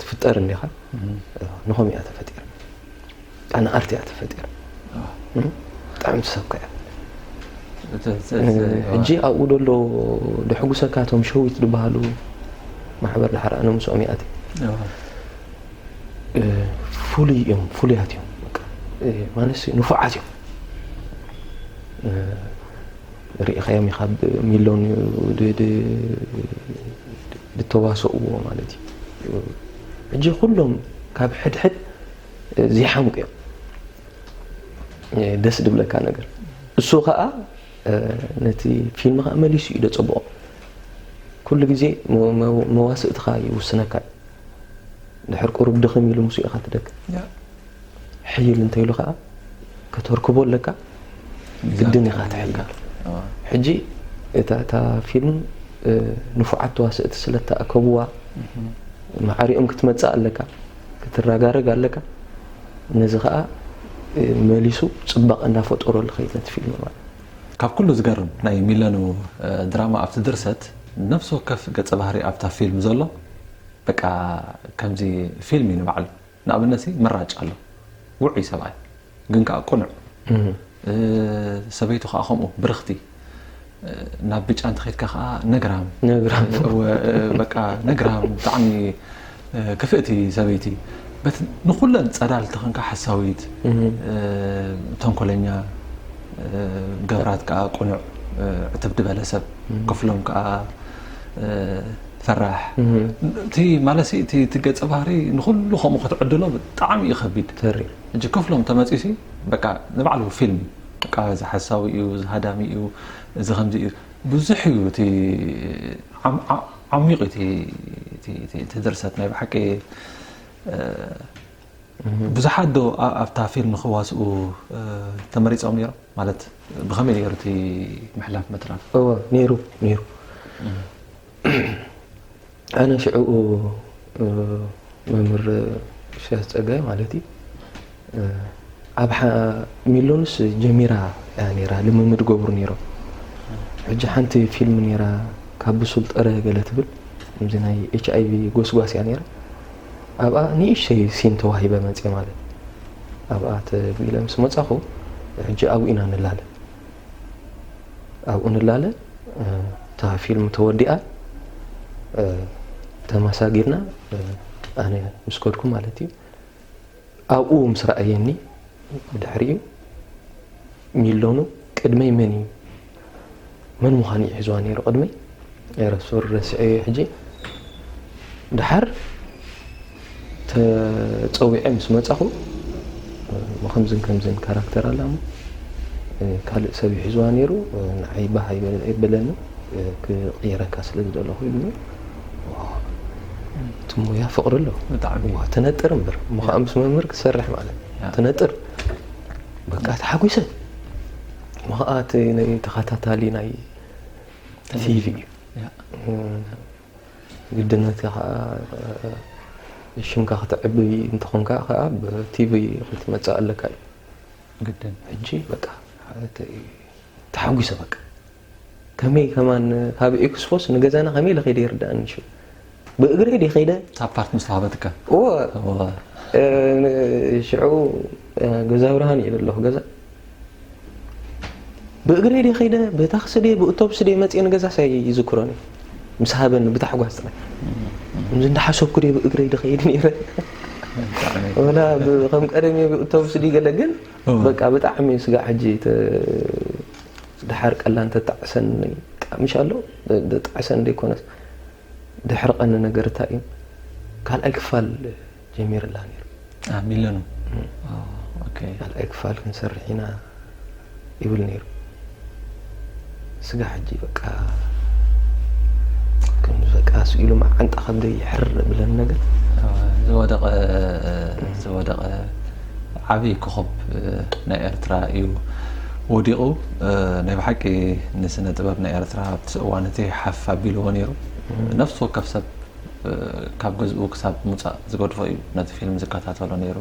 ትፍጠር እንዲኻ ንኸምኡ እያ ተፈጢራ ኣነኣርቲ እያ ተፈጢራ ብጣዕሚ ትሰብካ እያ ሕጂ ኣብኡ ደሎ ድሕጉሰካ እቶም ሸዊት ዝበሃሉ ማሕበር ድሓር ኣነ ምስኦም ይኣት ፍሉይ እዮም ፍሉያት እዮም ማለት ንፉዓት እዮም ሪኢኻዮም ኢኻ ብ ሚሎን ድ ድ ድተዋሰእዎ ማለት እዩ ሕጂ ኩሎም ካብ ሕድሕድ ዘይሓምቁ እዮም ደስ ድብለካ ነገር እሱ ከኣ ነቲ ፊልም ከኣ መሊሱ እዩ ደጸብቆ ኩሉ ግዜ መዋስእትኻ ይውስነካ እዩ ድሕር ቁሩብ ድኽም ኢሉ ምስ ኢኻ ትደክ ሕይል እንተ ኢሉ ከኣ ከተርክቦ ኣለካ ግድን ኢኻ ትሕይል ሕጂ እታ ፊልም ንፉዓት ተዋሰእቲ ስለ ተኣከብዋ ማዕሪኦም ክትመጽእ ኣለካ ክትረጋረግ ኣለካ ነዚ ከኣ መሊሱ ጽባቐ እናፈጠሮ ልኸይድ ነቲ ፊልም ማለት ካብ ኩሉ ዝገርም ናይ ሚለኑ ድራማ ኣብቲ ድርሰት ነፍሲ ወከፍ ገጸ ባህሪ ኣብታ ፊልም ዘሎ በቃ ከምዚ ፊልም እዩ ንባዕሉ ንኣብነትሲ ምራጭ ኣሎ ውዑይ ሰብኣይ ግን ከኣ ቅኑዕ ሰበይቱ ከኣ ከምኡ ብርኽቲ ናብ ብጫ እንተኸድካ ከኣ ነግራም በቃ ነግራም ብጣዕሚ ክፍእቲ ሰበይቲ በቲ ንኹለን ጸዳል ተኸንካ ሓሳዊት ተንኮለኛ ገብራት ከኣ ቅኑዕ ዕትብዲ በለ ሰብ ክፍሎም ከኣ ፈራሕ እቲ ማለት እቲ እቲ ገጸ ባህሪ ንኹሉ ከምኡ ክትዕድሎ ብጣዕሚ እዩ ከቢድ ተሪ እጂ ክፍሎም ተመጺኡ ሲ በቃ ንባዕሉ ፊልም በቃ እዚ ሓሳዊ እዩ እዚ ሃዳሚ እዩ እዚ ከምዚ እዩ ብዙሕ እዩ እቲ ዓሚቕ እቲ ድርሰት ናይ ብሓቂ ብዙሓት ዶ ኣብታ ፊልም ክዋስኡ ተመሪጾም ኔሮም ማለት ብከመይ ኔሩ እቲ ምሕላፍ ምትራፍ? እወ ኔሩ ኔሩ ኣነ ሽዑኡ መምህር እሸያስ ጸጋይ ማለት ኣብ ሚሎንስ ጀሚራ እያ ኔራ ልምምድ ገብሩ ኔሮም ሕጂ ሓንቲ ፊልም ኔራ ካብ ብሱል ጥረ ገለ ትብል ከምዚ ናይ ኤች ኣይቪ ጎስጓስ እያ ኔራ ኣብኣ ንእሽተይ ሲም ተዋሂበ መጼ ማለት ኣብኣ ተግቢለ ምስ መጻኹ ሕጂ ኣብኡ ኢና ንላለ ኣብኡ ንላለ እታ ፊልም ተወዲኣ ተማሳጊርና ኣነ ምስ ከድኩ ማለት እዩ ኣብኡ ምስ ረኣየኒ ብድሕሪኡ፣ ሚሎኑ ቅድመይ መን እዩ? መን ምዃኑ እዩ ሒዝዋ ነይሩ ቅድመይ? ኤረ ሶሪ ረሲዐዮ ሕጂ ደሓር ተጸዊዐ ምስ መጻኹ እሞ ከምዝን ከምዝን ካራክተር ኣላ እሞ ካልእ ሰብ እዩ ሒዝዋ ነይሩ ንዓይ ባህ ኣይበለንን ክቕይረካ ስለ ዝደለኹ ኢሉኒ። እቲ ሙያ ፍቕሪ ኣሎ ብጣዕሚ ዋ ትነጥር እምበር እሞ ከዓ ምስ መምህር ክትሰርሕ ማለት ትነጥር በቃ ተሓጒሰ እሞ ከዓ እቲ ናይ ተኸታታሊ ናይ ቲቪ እዩ ግድነት ከዓ ሽምካ ክትዕቢ እንትኾንካ ከዓ ብቲቪ ክትመፅእ ኣለካ እዩ ግድን ሕጂ በቃ ተሓጒሰ በቃ ከመይ ከማን ካብ ኤክስፎስ ንገዛና ከመይ ኢለ ከይደ ይርዳእኒ ሹ ብእግረይ ዲ ከይደ ኣብ ፓርት ምስ ተዋህበትካ እወ እወ ሽዑ ገዛ ብርሃን እየ ዘለኹ ገዛ ብእግረይ ዲ ከይደ ብታክሲ ዲ ብእቶብስ ዲ መፅየ ንገዛ ሳይ ይዝክሮን ምስ ሃበኒ ብታሕጓስ ጥራይ እምዚ እንዳሓሰብኩ ዲ ብእግረይ ዲ ከይድ ነይረ ወላ ከም ቀደም እየ ብእቶብስ ዲ ገለ ግን በቃ ብጣዕሚ ስጋዕ ሕጂ ደሓር ቀላ እንተ ጣዕሰን ጣዕምሽ ኣሎ ጣዕሰን ደይኮነስ ድሕሪ ቀኒ ነገር እታይ እዩ ካልኣይ ክፋል ጀሚርላ ነይሩ ኣብ ሚለኑ ኦከይ ካልኣይ ክፋል ክንሰርሕ ኢና ይብል ነይሩ ስጋ ሕጂ በቃ ከም በቃ ስኢሉ መዓንጣ ከብደይ ይሕር ብለን ነገር ዝወደቀ ዝወደቀ ዓቢ ኮኾብ ናይ ኤርትራ ኢዩ ወዲቁ ናይ ብሓቂ ንስነ ጥበብ ናይ ኤርትራ ኣብቲ እዋን እቲ ሓፍ ኣቢልዎ ነይሩ ነፍሲ ወከፍ ሰብ ካብ ገዝኡ ክሳብ ሙጻእ ዝገድፎ ኢዩ ነቲ ፊልም ዝከታተሎ ነይሩ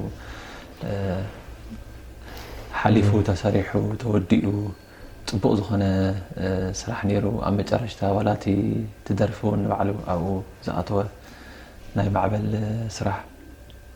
ሓሊፉ ተሰሪሑ ተወዲኡ ፅቡቅ ዝኾነ ስራሕ ነይሩ ኣብ መጨረሽታ ዋላ እቲ ትደርፊ እውን ንባዕሉ ኣብኡ ዝኣተወ ናይ ማዕበል ስራሕ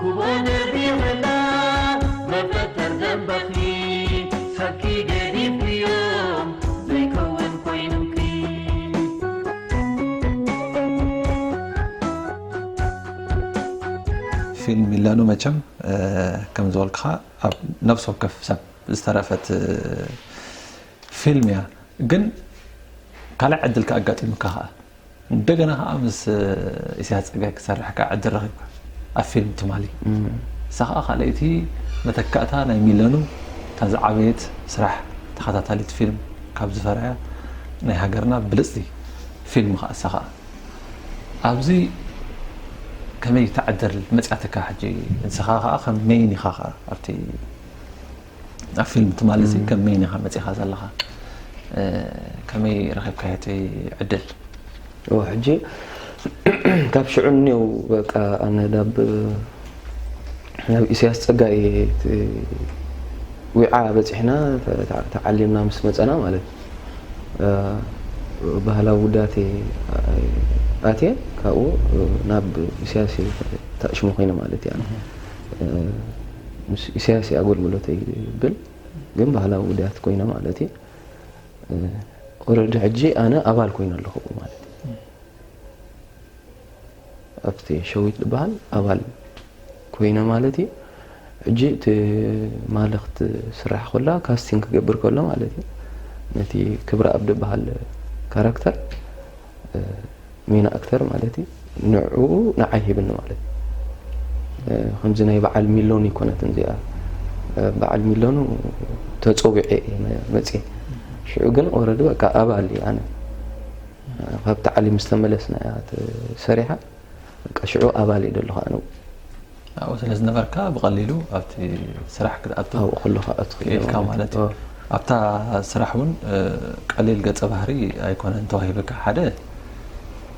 ኩቡኡ ነቢርና መፈጠር ደምበኺ ሰብኪ ገዲፍክዮ ዘይከውን ኮይኑኪ ፊልም ሚለኑ መቸም ከም ዝበልክኻ ኣብ ነብሲ ወከፍ ሰብ ዝተረፈት ፊልም እያ ግን ካልእ ዕድል ከኣጋጢሙካ ከኣ እንደገና ከኣ ምስ ኢሳያስ ጸጋይ ክትሰርሕ ከኣ ዕድል ረኺብካ ኣብ ፊልም ትማሊ። እሳ ከኣ ካልኣይቲ መተካእታ ናይ ሚለኑ እታ ዝዓበየት ስራሕ ተኸታታሊት ፊልም ካብ ዝፈረያ ናይ ሃገርና ብልጽቲ ፊልም ከኣ እሳ ከኣ። ኣብዚ ከመይ እታ ዕድል መጽያትካ ሕጂ ንስኻ ከኣ ከም ሜይን ኢኻ ከኣ ኣብቲ ኣብ ፊልም ትማሊ እዚ ከም መይን ኢኻ መፂኻ ዘለኻ ከመይ ረኺብካዮ እቲ ዕድል ሕጂ ካብ ሽዑ እኒው በቃ ኣነ ናብ ናብ ኢሳያስ ጸጋይ ዊዓ በጺሕና ተዓሊምና ምስ መጸና ማለት ባህላዊ ውዳት ኣትየ ካብኡ ናብ ኢሳያስ ተእሽሙ ኮይነ ማለት እያ ምስ ኢሳያስ ኣገልግሎተይ ይብል ግን ባህላዊ ውዳያት ኮይነ ማለት እዩ ኦረዲ ሕጂ ኣነ ኣባል ኮይነ ኣለኹ ማለት እዩ ኣብቲ ሸዊት ዝበሃል ኣባል ኮይነ ማለት እዩ ሕጂ እቲ ማለኽት ስራሕ ኮላ ካስቲንግ ክገብር ከሎ ማለት እዩ ነቲ ክብረ ኣብ ዝበሃል ካራክተር ሜን ኣክተር ማለት እዩ ንዑ ንዓይ ሂብኒ ማለት ከምዚ ናይ በዓል ሚሎን ይኮነትን እዚኣ በዓል ሚሎኑ ተፀዊዐ መፅ ሽዑ ግን ኦረዲ በቃ ኣባል እዩ ኣነ ካብ ታዕሊም ዝተመለስና እያ ሰሪሓ በቃ ሽዑ ኣባል እዩ ደለኹ ኣነ ኣብኡ ስለ ዝነበርካ ብቐሊሉ ኣብቲ ስራሕ ክትኣቱ ኣብኡ ከለኻ ክትኣቱ ክኢልካ ክኢልካ ማለት ማለት እዩ። እዩ። ኦ። ኣብታ ስራሕ እውን እ፣ ቀሊል ገጸ ባህሪ ኣይኮነን ተዋሂብካ። ሓደ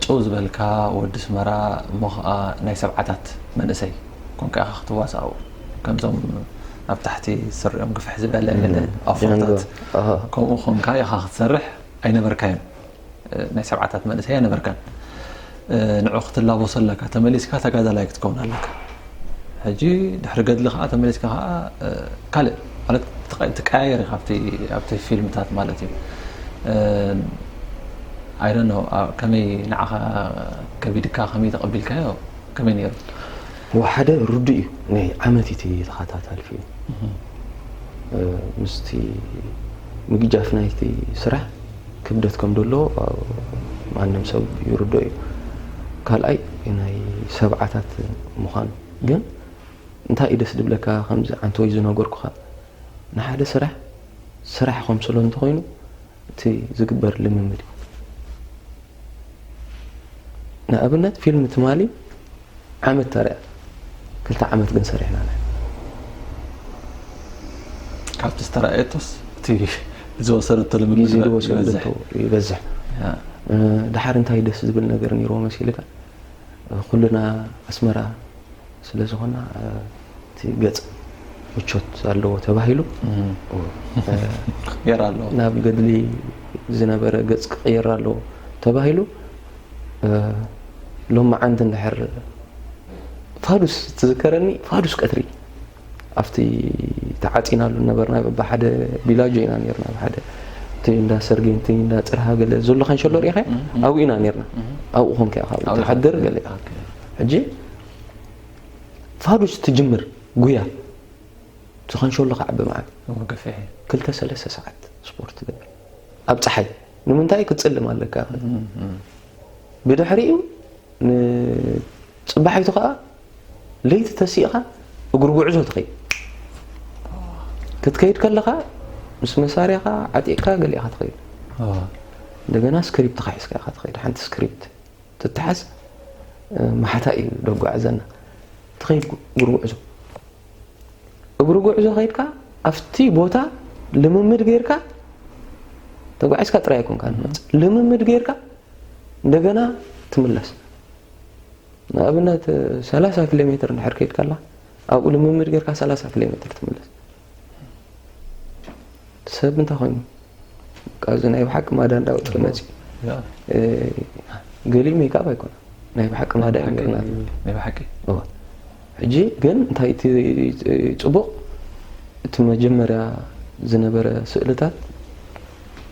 ጭው ዝበልካ ወዲ ኣስመራ እሞ ኸኣ ናይ ሰብዓታት መንእሰይ ኰንካ ኢኻ ክትዋሳእ ኣብኡ። ከምዞም ኣብ ታሕቲ ስሪኦም ግፍሕ ዝበለ ገለ ጃንጎ። ኣፍሮታት ኣሃ። ከምኡ ኰንካ ኢኻ ክትሰርሕ ኣይነበርካዮን። ናይ ሰብዓታት መንእሰይ ኣይነበርካን ንዑ ክትላበሶ ኣለካ ተመሊስካ ተጋዳላይ ክትከውን ኣለካ ሕጂ ድሕሪ ገድሊ ከዓ ተመሊስካ ከዓ ካልእ ማለት ትቀያየር ኢካ ኣብቲ ፊልምታት ማለት እዩ ኣይደ ነው ከመይ ንዓኻ ከቢድካ ከመይ ተቐቢልካዮ ከመይ ነይሩ ሓደ ርዱእ እዩ ናይ ዓመት እቲ ተኸታታሊ ፊልም ምስቲ ምግጃፍ ናይቲ ስራሕ ክብደት ከም ደለዎ ማንም ሰብ ይርድኦ እዩ ካልኣይ ናይ ሰብዓታት ምዃኑ ግን እንታይ እዩ ደስ ድብለካ ከምዚ ዓንተወይ ዝነገርኩኻ ንሓደ ስራሕ ስራሕ ከምስሎ እንተኾይኑ እቲ ዝግበር ልምምድ እዩ ንኣብነት ፊልም ትማሊ ዓመት ተርያ ክልተ ዓመት ግን ሰሪሕና ንሕና። ካብቲ ዝተራእየቶስ እቲ ዝወሰደቶ ልምምድ ግዜ ዝወሰደቶ ይበዝሕ። ይበዝሕ ያ፣ እ፣ ድሓር እንታይ ደስ ዝብል ነገር ነይርዎ መሲልካ እ፣ ኩልና ኣስመራ ስለ ዝኾና እ፣ እቲ ገጽ ምቾት ኣለዎ ተባሂሉ እ፣ ክቅየር ኣለዎ። ናብ ገድሊ ዝነበረ ገጽ ክቕየር ኣለዎ ተባሂሉ ሎማዓንቲ እንድሕር ፋዱስ ትዝከረኒ ፋዱስ ቀትሪ ኣብቲ ተዓፂናሉ ነበርና ብሓደ ቢላጆ ኢና ነርና ብሓደ እቲ እንዳ ሰርጌንቲ እንዳ ፅርሃ ገለ ዘሎ ከንሸሎ ሪኢኸ ኣብኡ ኢና ነርና ኣብኡ ኮንከ ካብ ትሓድር ገለ ሕጂ ፋዱስ ትጅምር ጉያ እቲ ከንሸሎ ክዓቢ መዓት ክልተ ሰለስተ ሰዓት ስፖርት ትገብር ኣብ ፀሓይ ንምንታይ ክትጽልም ኣለካ ብድሕሪኡ ንጽባሒቱ ከኣ ለይቲ ተሲእኻ እግሪ ጉዕዞ ትኸይድ ክትከይድ ከለኻ ምስ መሳርያኻ ዓጢቕካ ገሊእኻ ትኸይድ እንደገና ስክሪፕትካ ሒዝካ ኢኻ ትኸይድ ሓንቲ ስክሪፕት ትተሓዝ ማሓታ እዩ ደጓዕዘና ትኸይድ ጉርጉዕዞ እግሪ ጉዕዞ ከይድካ ኣብቲ ቦታ ልምምድ ገይርካ ተጓዒዝካ ጥራይ ኣይኮንካ ንመፅእ ልምምድ ገይርካ እንደገና ትምለስ ንኣብነት ሰላሳ ኪሎ ሜትር እንድሕር ከይድካ ኣላ ኣብኡ ልምምድ ገይርካ ሰላሳ ኪሎ ሜትር ትምለስ ሰብ እንታይ ኮይኑ ካብዚ ናይ ብሓቂ ማዳ እንዳውፅ መፅ ገሊኡ ሜካብ ኣይኮነ ናይ ብሓቂ ማዳ እዩ ናይ ብሓቂ ሕጂ ግን እንታይ እቲ ጽቡቕ እቲ መጀመርያ ዝነበረ ስእልታት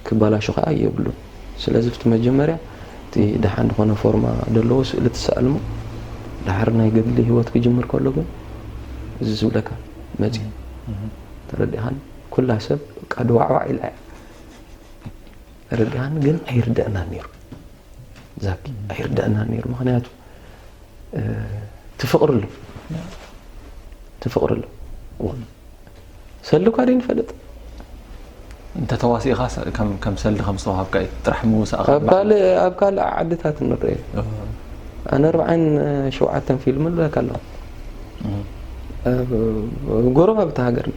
ክባላሾ ከኣ የብሉን ስለዚ ብቲ መጀመርያ እቲ ደሓን ዝኾነ ፎርማ ደለዎ ስእሊ ትሰኣልሞ ደሓር ናይ ገድሊ ሂወት ክጅምር ከሎ ግን እዚ ዝብለካ መጺኡ ተረዲኻኒ ኩላ ሰብ በቃ ድዋዕዋዕ ኢላ እያ። ርድኣኒ ግን ኣይርደኣናን ነይሩ ዛኪ ኣይርደኣናን ነይሩ ምክንያቱ ትፍቕሪ ኣሎ ትፍቕሪ ኣሎ ሰልኳ ደይ ንፈልጥ እንተ ተዋሲእኻ ከም ሰልዲ ከም ዝተዋሃብካ እዩ ጥራሕ ምውሳእኻ ኣብ ካልእ ዓድታት ንርኢ ኣነ ኣርባዓን ሸውዓተን ፊልም ኣለካ ኣለዋ ኣብ ጎረባብቲ ሃገርና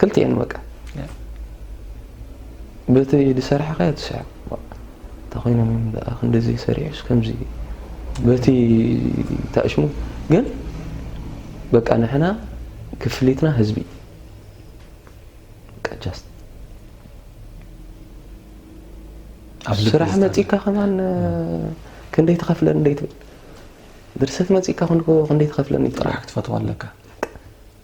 ክልቲኤን በቃ በቲ ዝሰራሕካዮ ትስዕብ እንተኮይኖም እዮም ደኣ ክንዲዚ ሰሪሑስ ከምዚ በቲ ታእሽሙ ግን በቃ ንሕና ክፍሊትና ህዝቢ ጃስት ኣብ ልቢ ስራሕ ዝጠና። መፂካ ከማን ክንደይ ትኸፍለን እንደይ ትብል ድርሰት መፂካ ክንደይ ትኸፍለን እዩ ጥራሕ ክትፈትዋ ኣለካ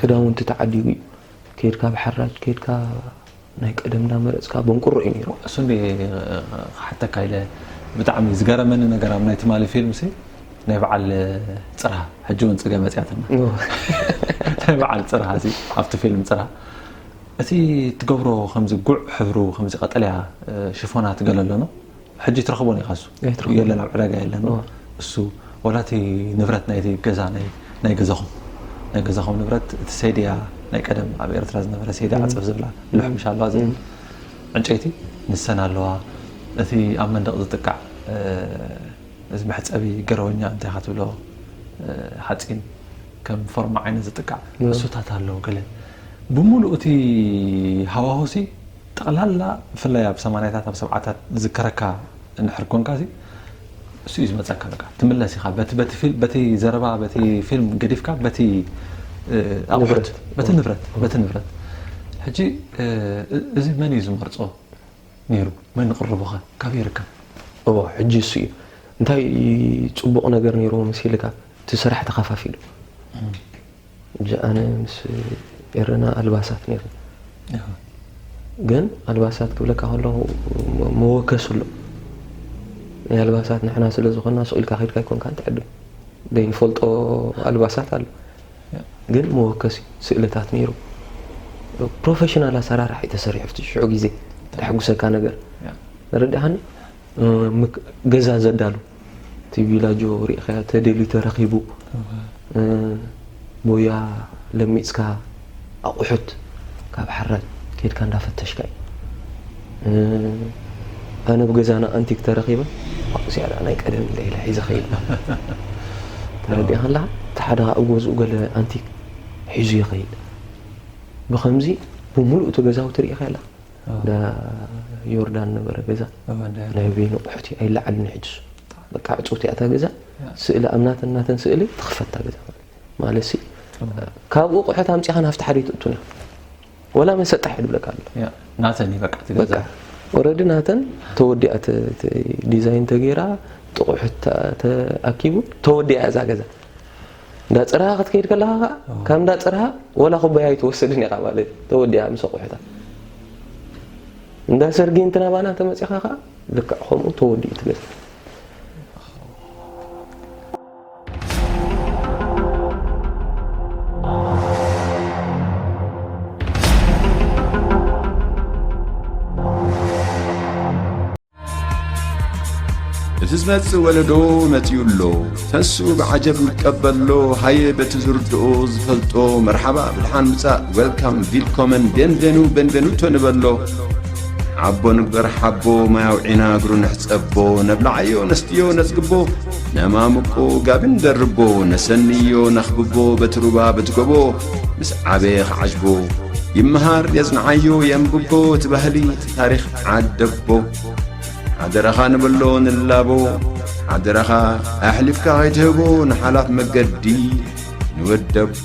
ክዳውንቲ ተዓዲጉ እዩ ከድካ ብሓራጅ ከድካ ናይ ቀደም እንዳመረፅካ በንቁሮ እዩ ነይሩ እሱ እንዲ ክሓተካ ኢለ ብጣዕሚ ዝገረመኒ ነገር ኣብ ናይ ትማሊ ፊልም ሲ ናይ በዓል ፅርሃ ሕጂ እውን ፅገ መፅያትና ናይ በዓል ፅርሃ ሲ ኣብቲ ፊልም ፅርሃ እቲ ትገብሮ ከምዚ ጉዕ ሕብሩ ከምዚ ቀጠልያ ሽፎናት ገለ ኣለኖ ሕጂ ትረኽቦን ኢኻ እሱ ኣይትረኽቦን። የለን ኣብ ዕዳጋ የለን እዎ። እሱ ወላ እቲ ንብረት ናይቲ ገዛ ናይ ናይ ገዛኹም ናይ ገዛኹም ንብረት እቲ ሴድያ ናይ ቀደም ኣብ ኤርትራ ዝነበረ ሴድያ ዓጽፍ ዝብላ ልሕምሽ ኣለዋ ዝብል ዕንጨይቲ ንሰን ኣለዋ እቲ ኣብ መንደቕ ዝጥቃዕ እ፣ እዚ መሕጸቢ ገረወኛ እንታይ ኢኻ ትብሎ እ፣ ሓጺን ከም ፎርማ ዓይነት ዝጥቃዕ እሱታት ኣሎ ገለ ብምሉኡ እቲ ሃዋሁሲ ጠቕላላ ብፍላይ ኣብ ሰማንያታት ኣብ ሰብዓታት ዝዝከረካ እንድሕር ኮንካሲ እሱ እዩ ዝመፀካ በቃ ትምለስ ኢኻ በቲ በቲ ፊልም በቲ ዘረባ በቲ ፊልም ገዲፍካ በቲ ኣቑሑት በቲ ንብረት በቲ ንብረት ሕጂ እዚ መን እዩ ዝመርፆ ነይሩ መን ቕርቡኸ ካበይ ይርከብ እዎ ሕጂ እሱ እዩ እንታይ ፅቡቕ ነገር ነይሩዎ መሲልካ እቲ ስራሕ ተኸፋፊሉ ሕጂ ኣነ ምስ ኤረና ኣልባሳት ኔርና ግን ኣልባሳት ክብለካ ከለኹ መወከሲ ኣሎ ናይ ኣልባሳት ንሕና ስለ ዝኾና ሱቕ ኢልካ ከድካ ኣይኮንካን ትዕድም ዘይንፈልጦ ኣልባሳት ኣሎ ግን መወከሲ ስእልታት ነይሩ ፕሮፌሽናል ኣሰራርሓ እዩ ተሰሪሑ ኣብቲ ሽዑ ግዜ ተሐጉሰካ ነገር ንረዳኻኒ ገዛ ዘዳሉ እቲ ቪላጆ ሪእኻያ ተደልዩ ተረኺቡ ሞያ ለሚፅካ ኣቑሑት ካብ ሓራጅ ኬድካ እንዳፈተሽካ እዩ ኣነ ብ ገዛና ኣንቲክ ተረኺበ ኣብኡ ስያ ደኣ ናይ ቀደም እንዳ ኢለ ሒዘ ኸይድ ተረዲእኻ ኣለኻ እቲ ሓደ ከዓ ኣብ ገዝኡ ገለ ኣንቲክ ሒዙ ይኸይድ ብኸምዚ ብምሉእ እቲ ገዛውቲ ሪእኻ ኣለኻ እንዳ ዮርዳን ነበረ ገዛ ናይ ቤኑ ኣቑሑት እዩ ኣይለዓልን እዩ ሕጂ እሱ በቃ ዕፅውቲ እያ እታ ገዛ ስእሊ ኣብ ናተን ናተን ስእሊ ትኽፈት እታ ገዛ ማለት ሲ ካብኡ ኣቑሑት ኣምፂኻ ናብቲ ሓደ ትእቱን እዮም ወላ መን ሰጣሕ እዩ ዝብለካ ኣሎ ናተን እዩ በቃ ገዛ ኦረዲ ናተን ተወዲኣ ዲዛይን ተገይራ ጥቑሑት ተኣኪቡ ተወዲኣ እዛ ገዛ እንዳ ፅርሃ ክትከይድ ከለካ ከዓ ካብ እንዳ ፅርሃ ወላ ኩባያ ኣይትወስድን ኢኻ ማለት እዩ ተወዲኣ ምስ ኣቑሑታ እንዳ ሰርጊ እንትናባና ተመፂኻ ከዓ ልክዕ ከምኡ ተወዲኡ ትመፅ እቲ ዝመጽእ ወለዶ መጺኡ ኣሎ ተሱ ብዓጀብ ንቀበሎ ሃየ በቲ ዝርድኦ ዝፈልጦ መርሓባ ብድሓን ምጻእ ዌልካም ቪልኮመን ቤንቬኑ ቤንቬኑቶ ንበሎ ዓቦ ንግበር ሓቦ ማያውዒና እግሩ ንሕጸቦ ነብላዓዮ ነስትዮ ነጽግቦ ነማምቆ ጋቢ ንደርቦ ነሰንዮ ነኽብቦ በቲ ሩባ በቲ ጎቦ ምስ ዓበየ ኸዓጅቦ ይመሃር የጽንዓዮ የንብቦ እቲ ባህሊ እቲ ታሪኽ ዓደቦ ሓደራኻ ንበሎ ንላቦ ሓደራኻ ኣሕሊፍካ ኸይትህቦ ንሓላፍ መገዲ ንወደቦ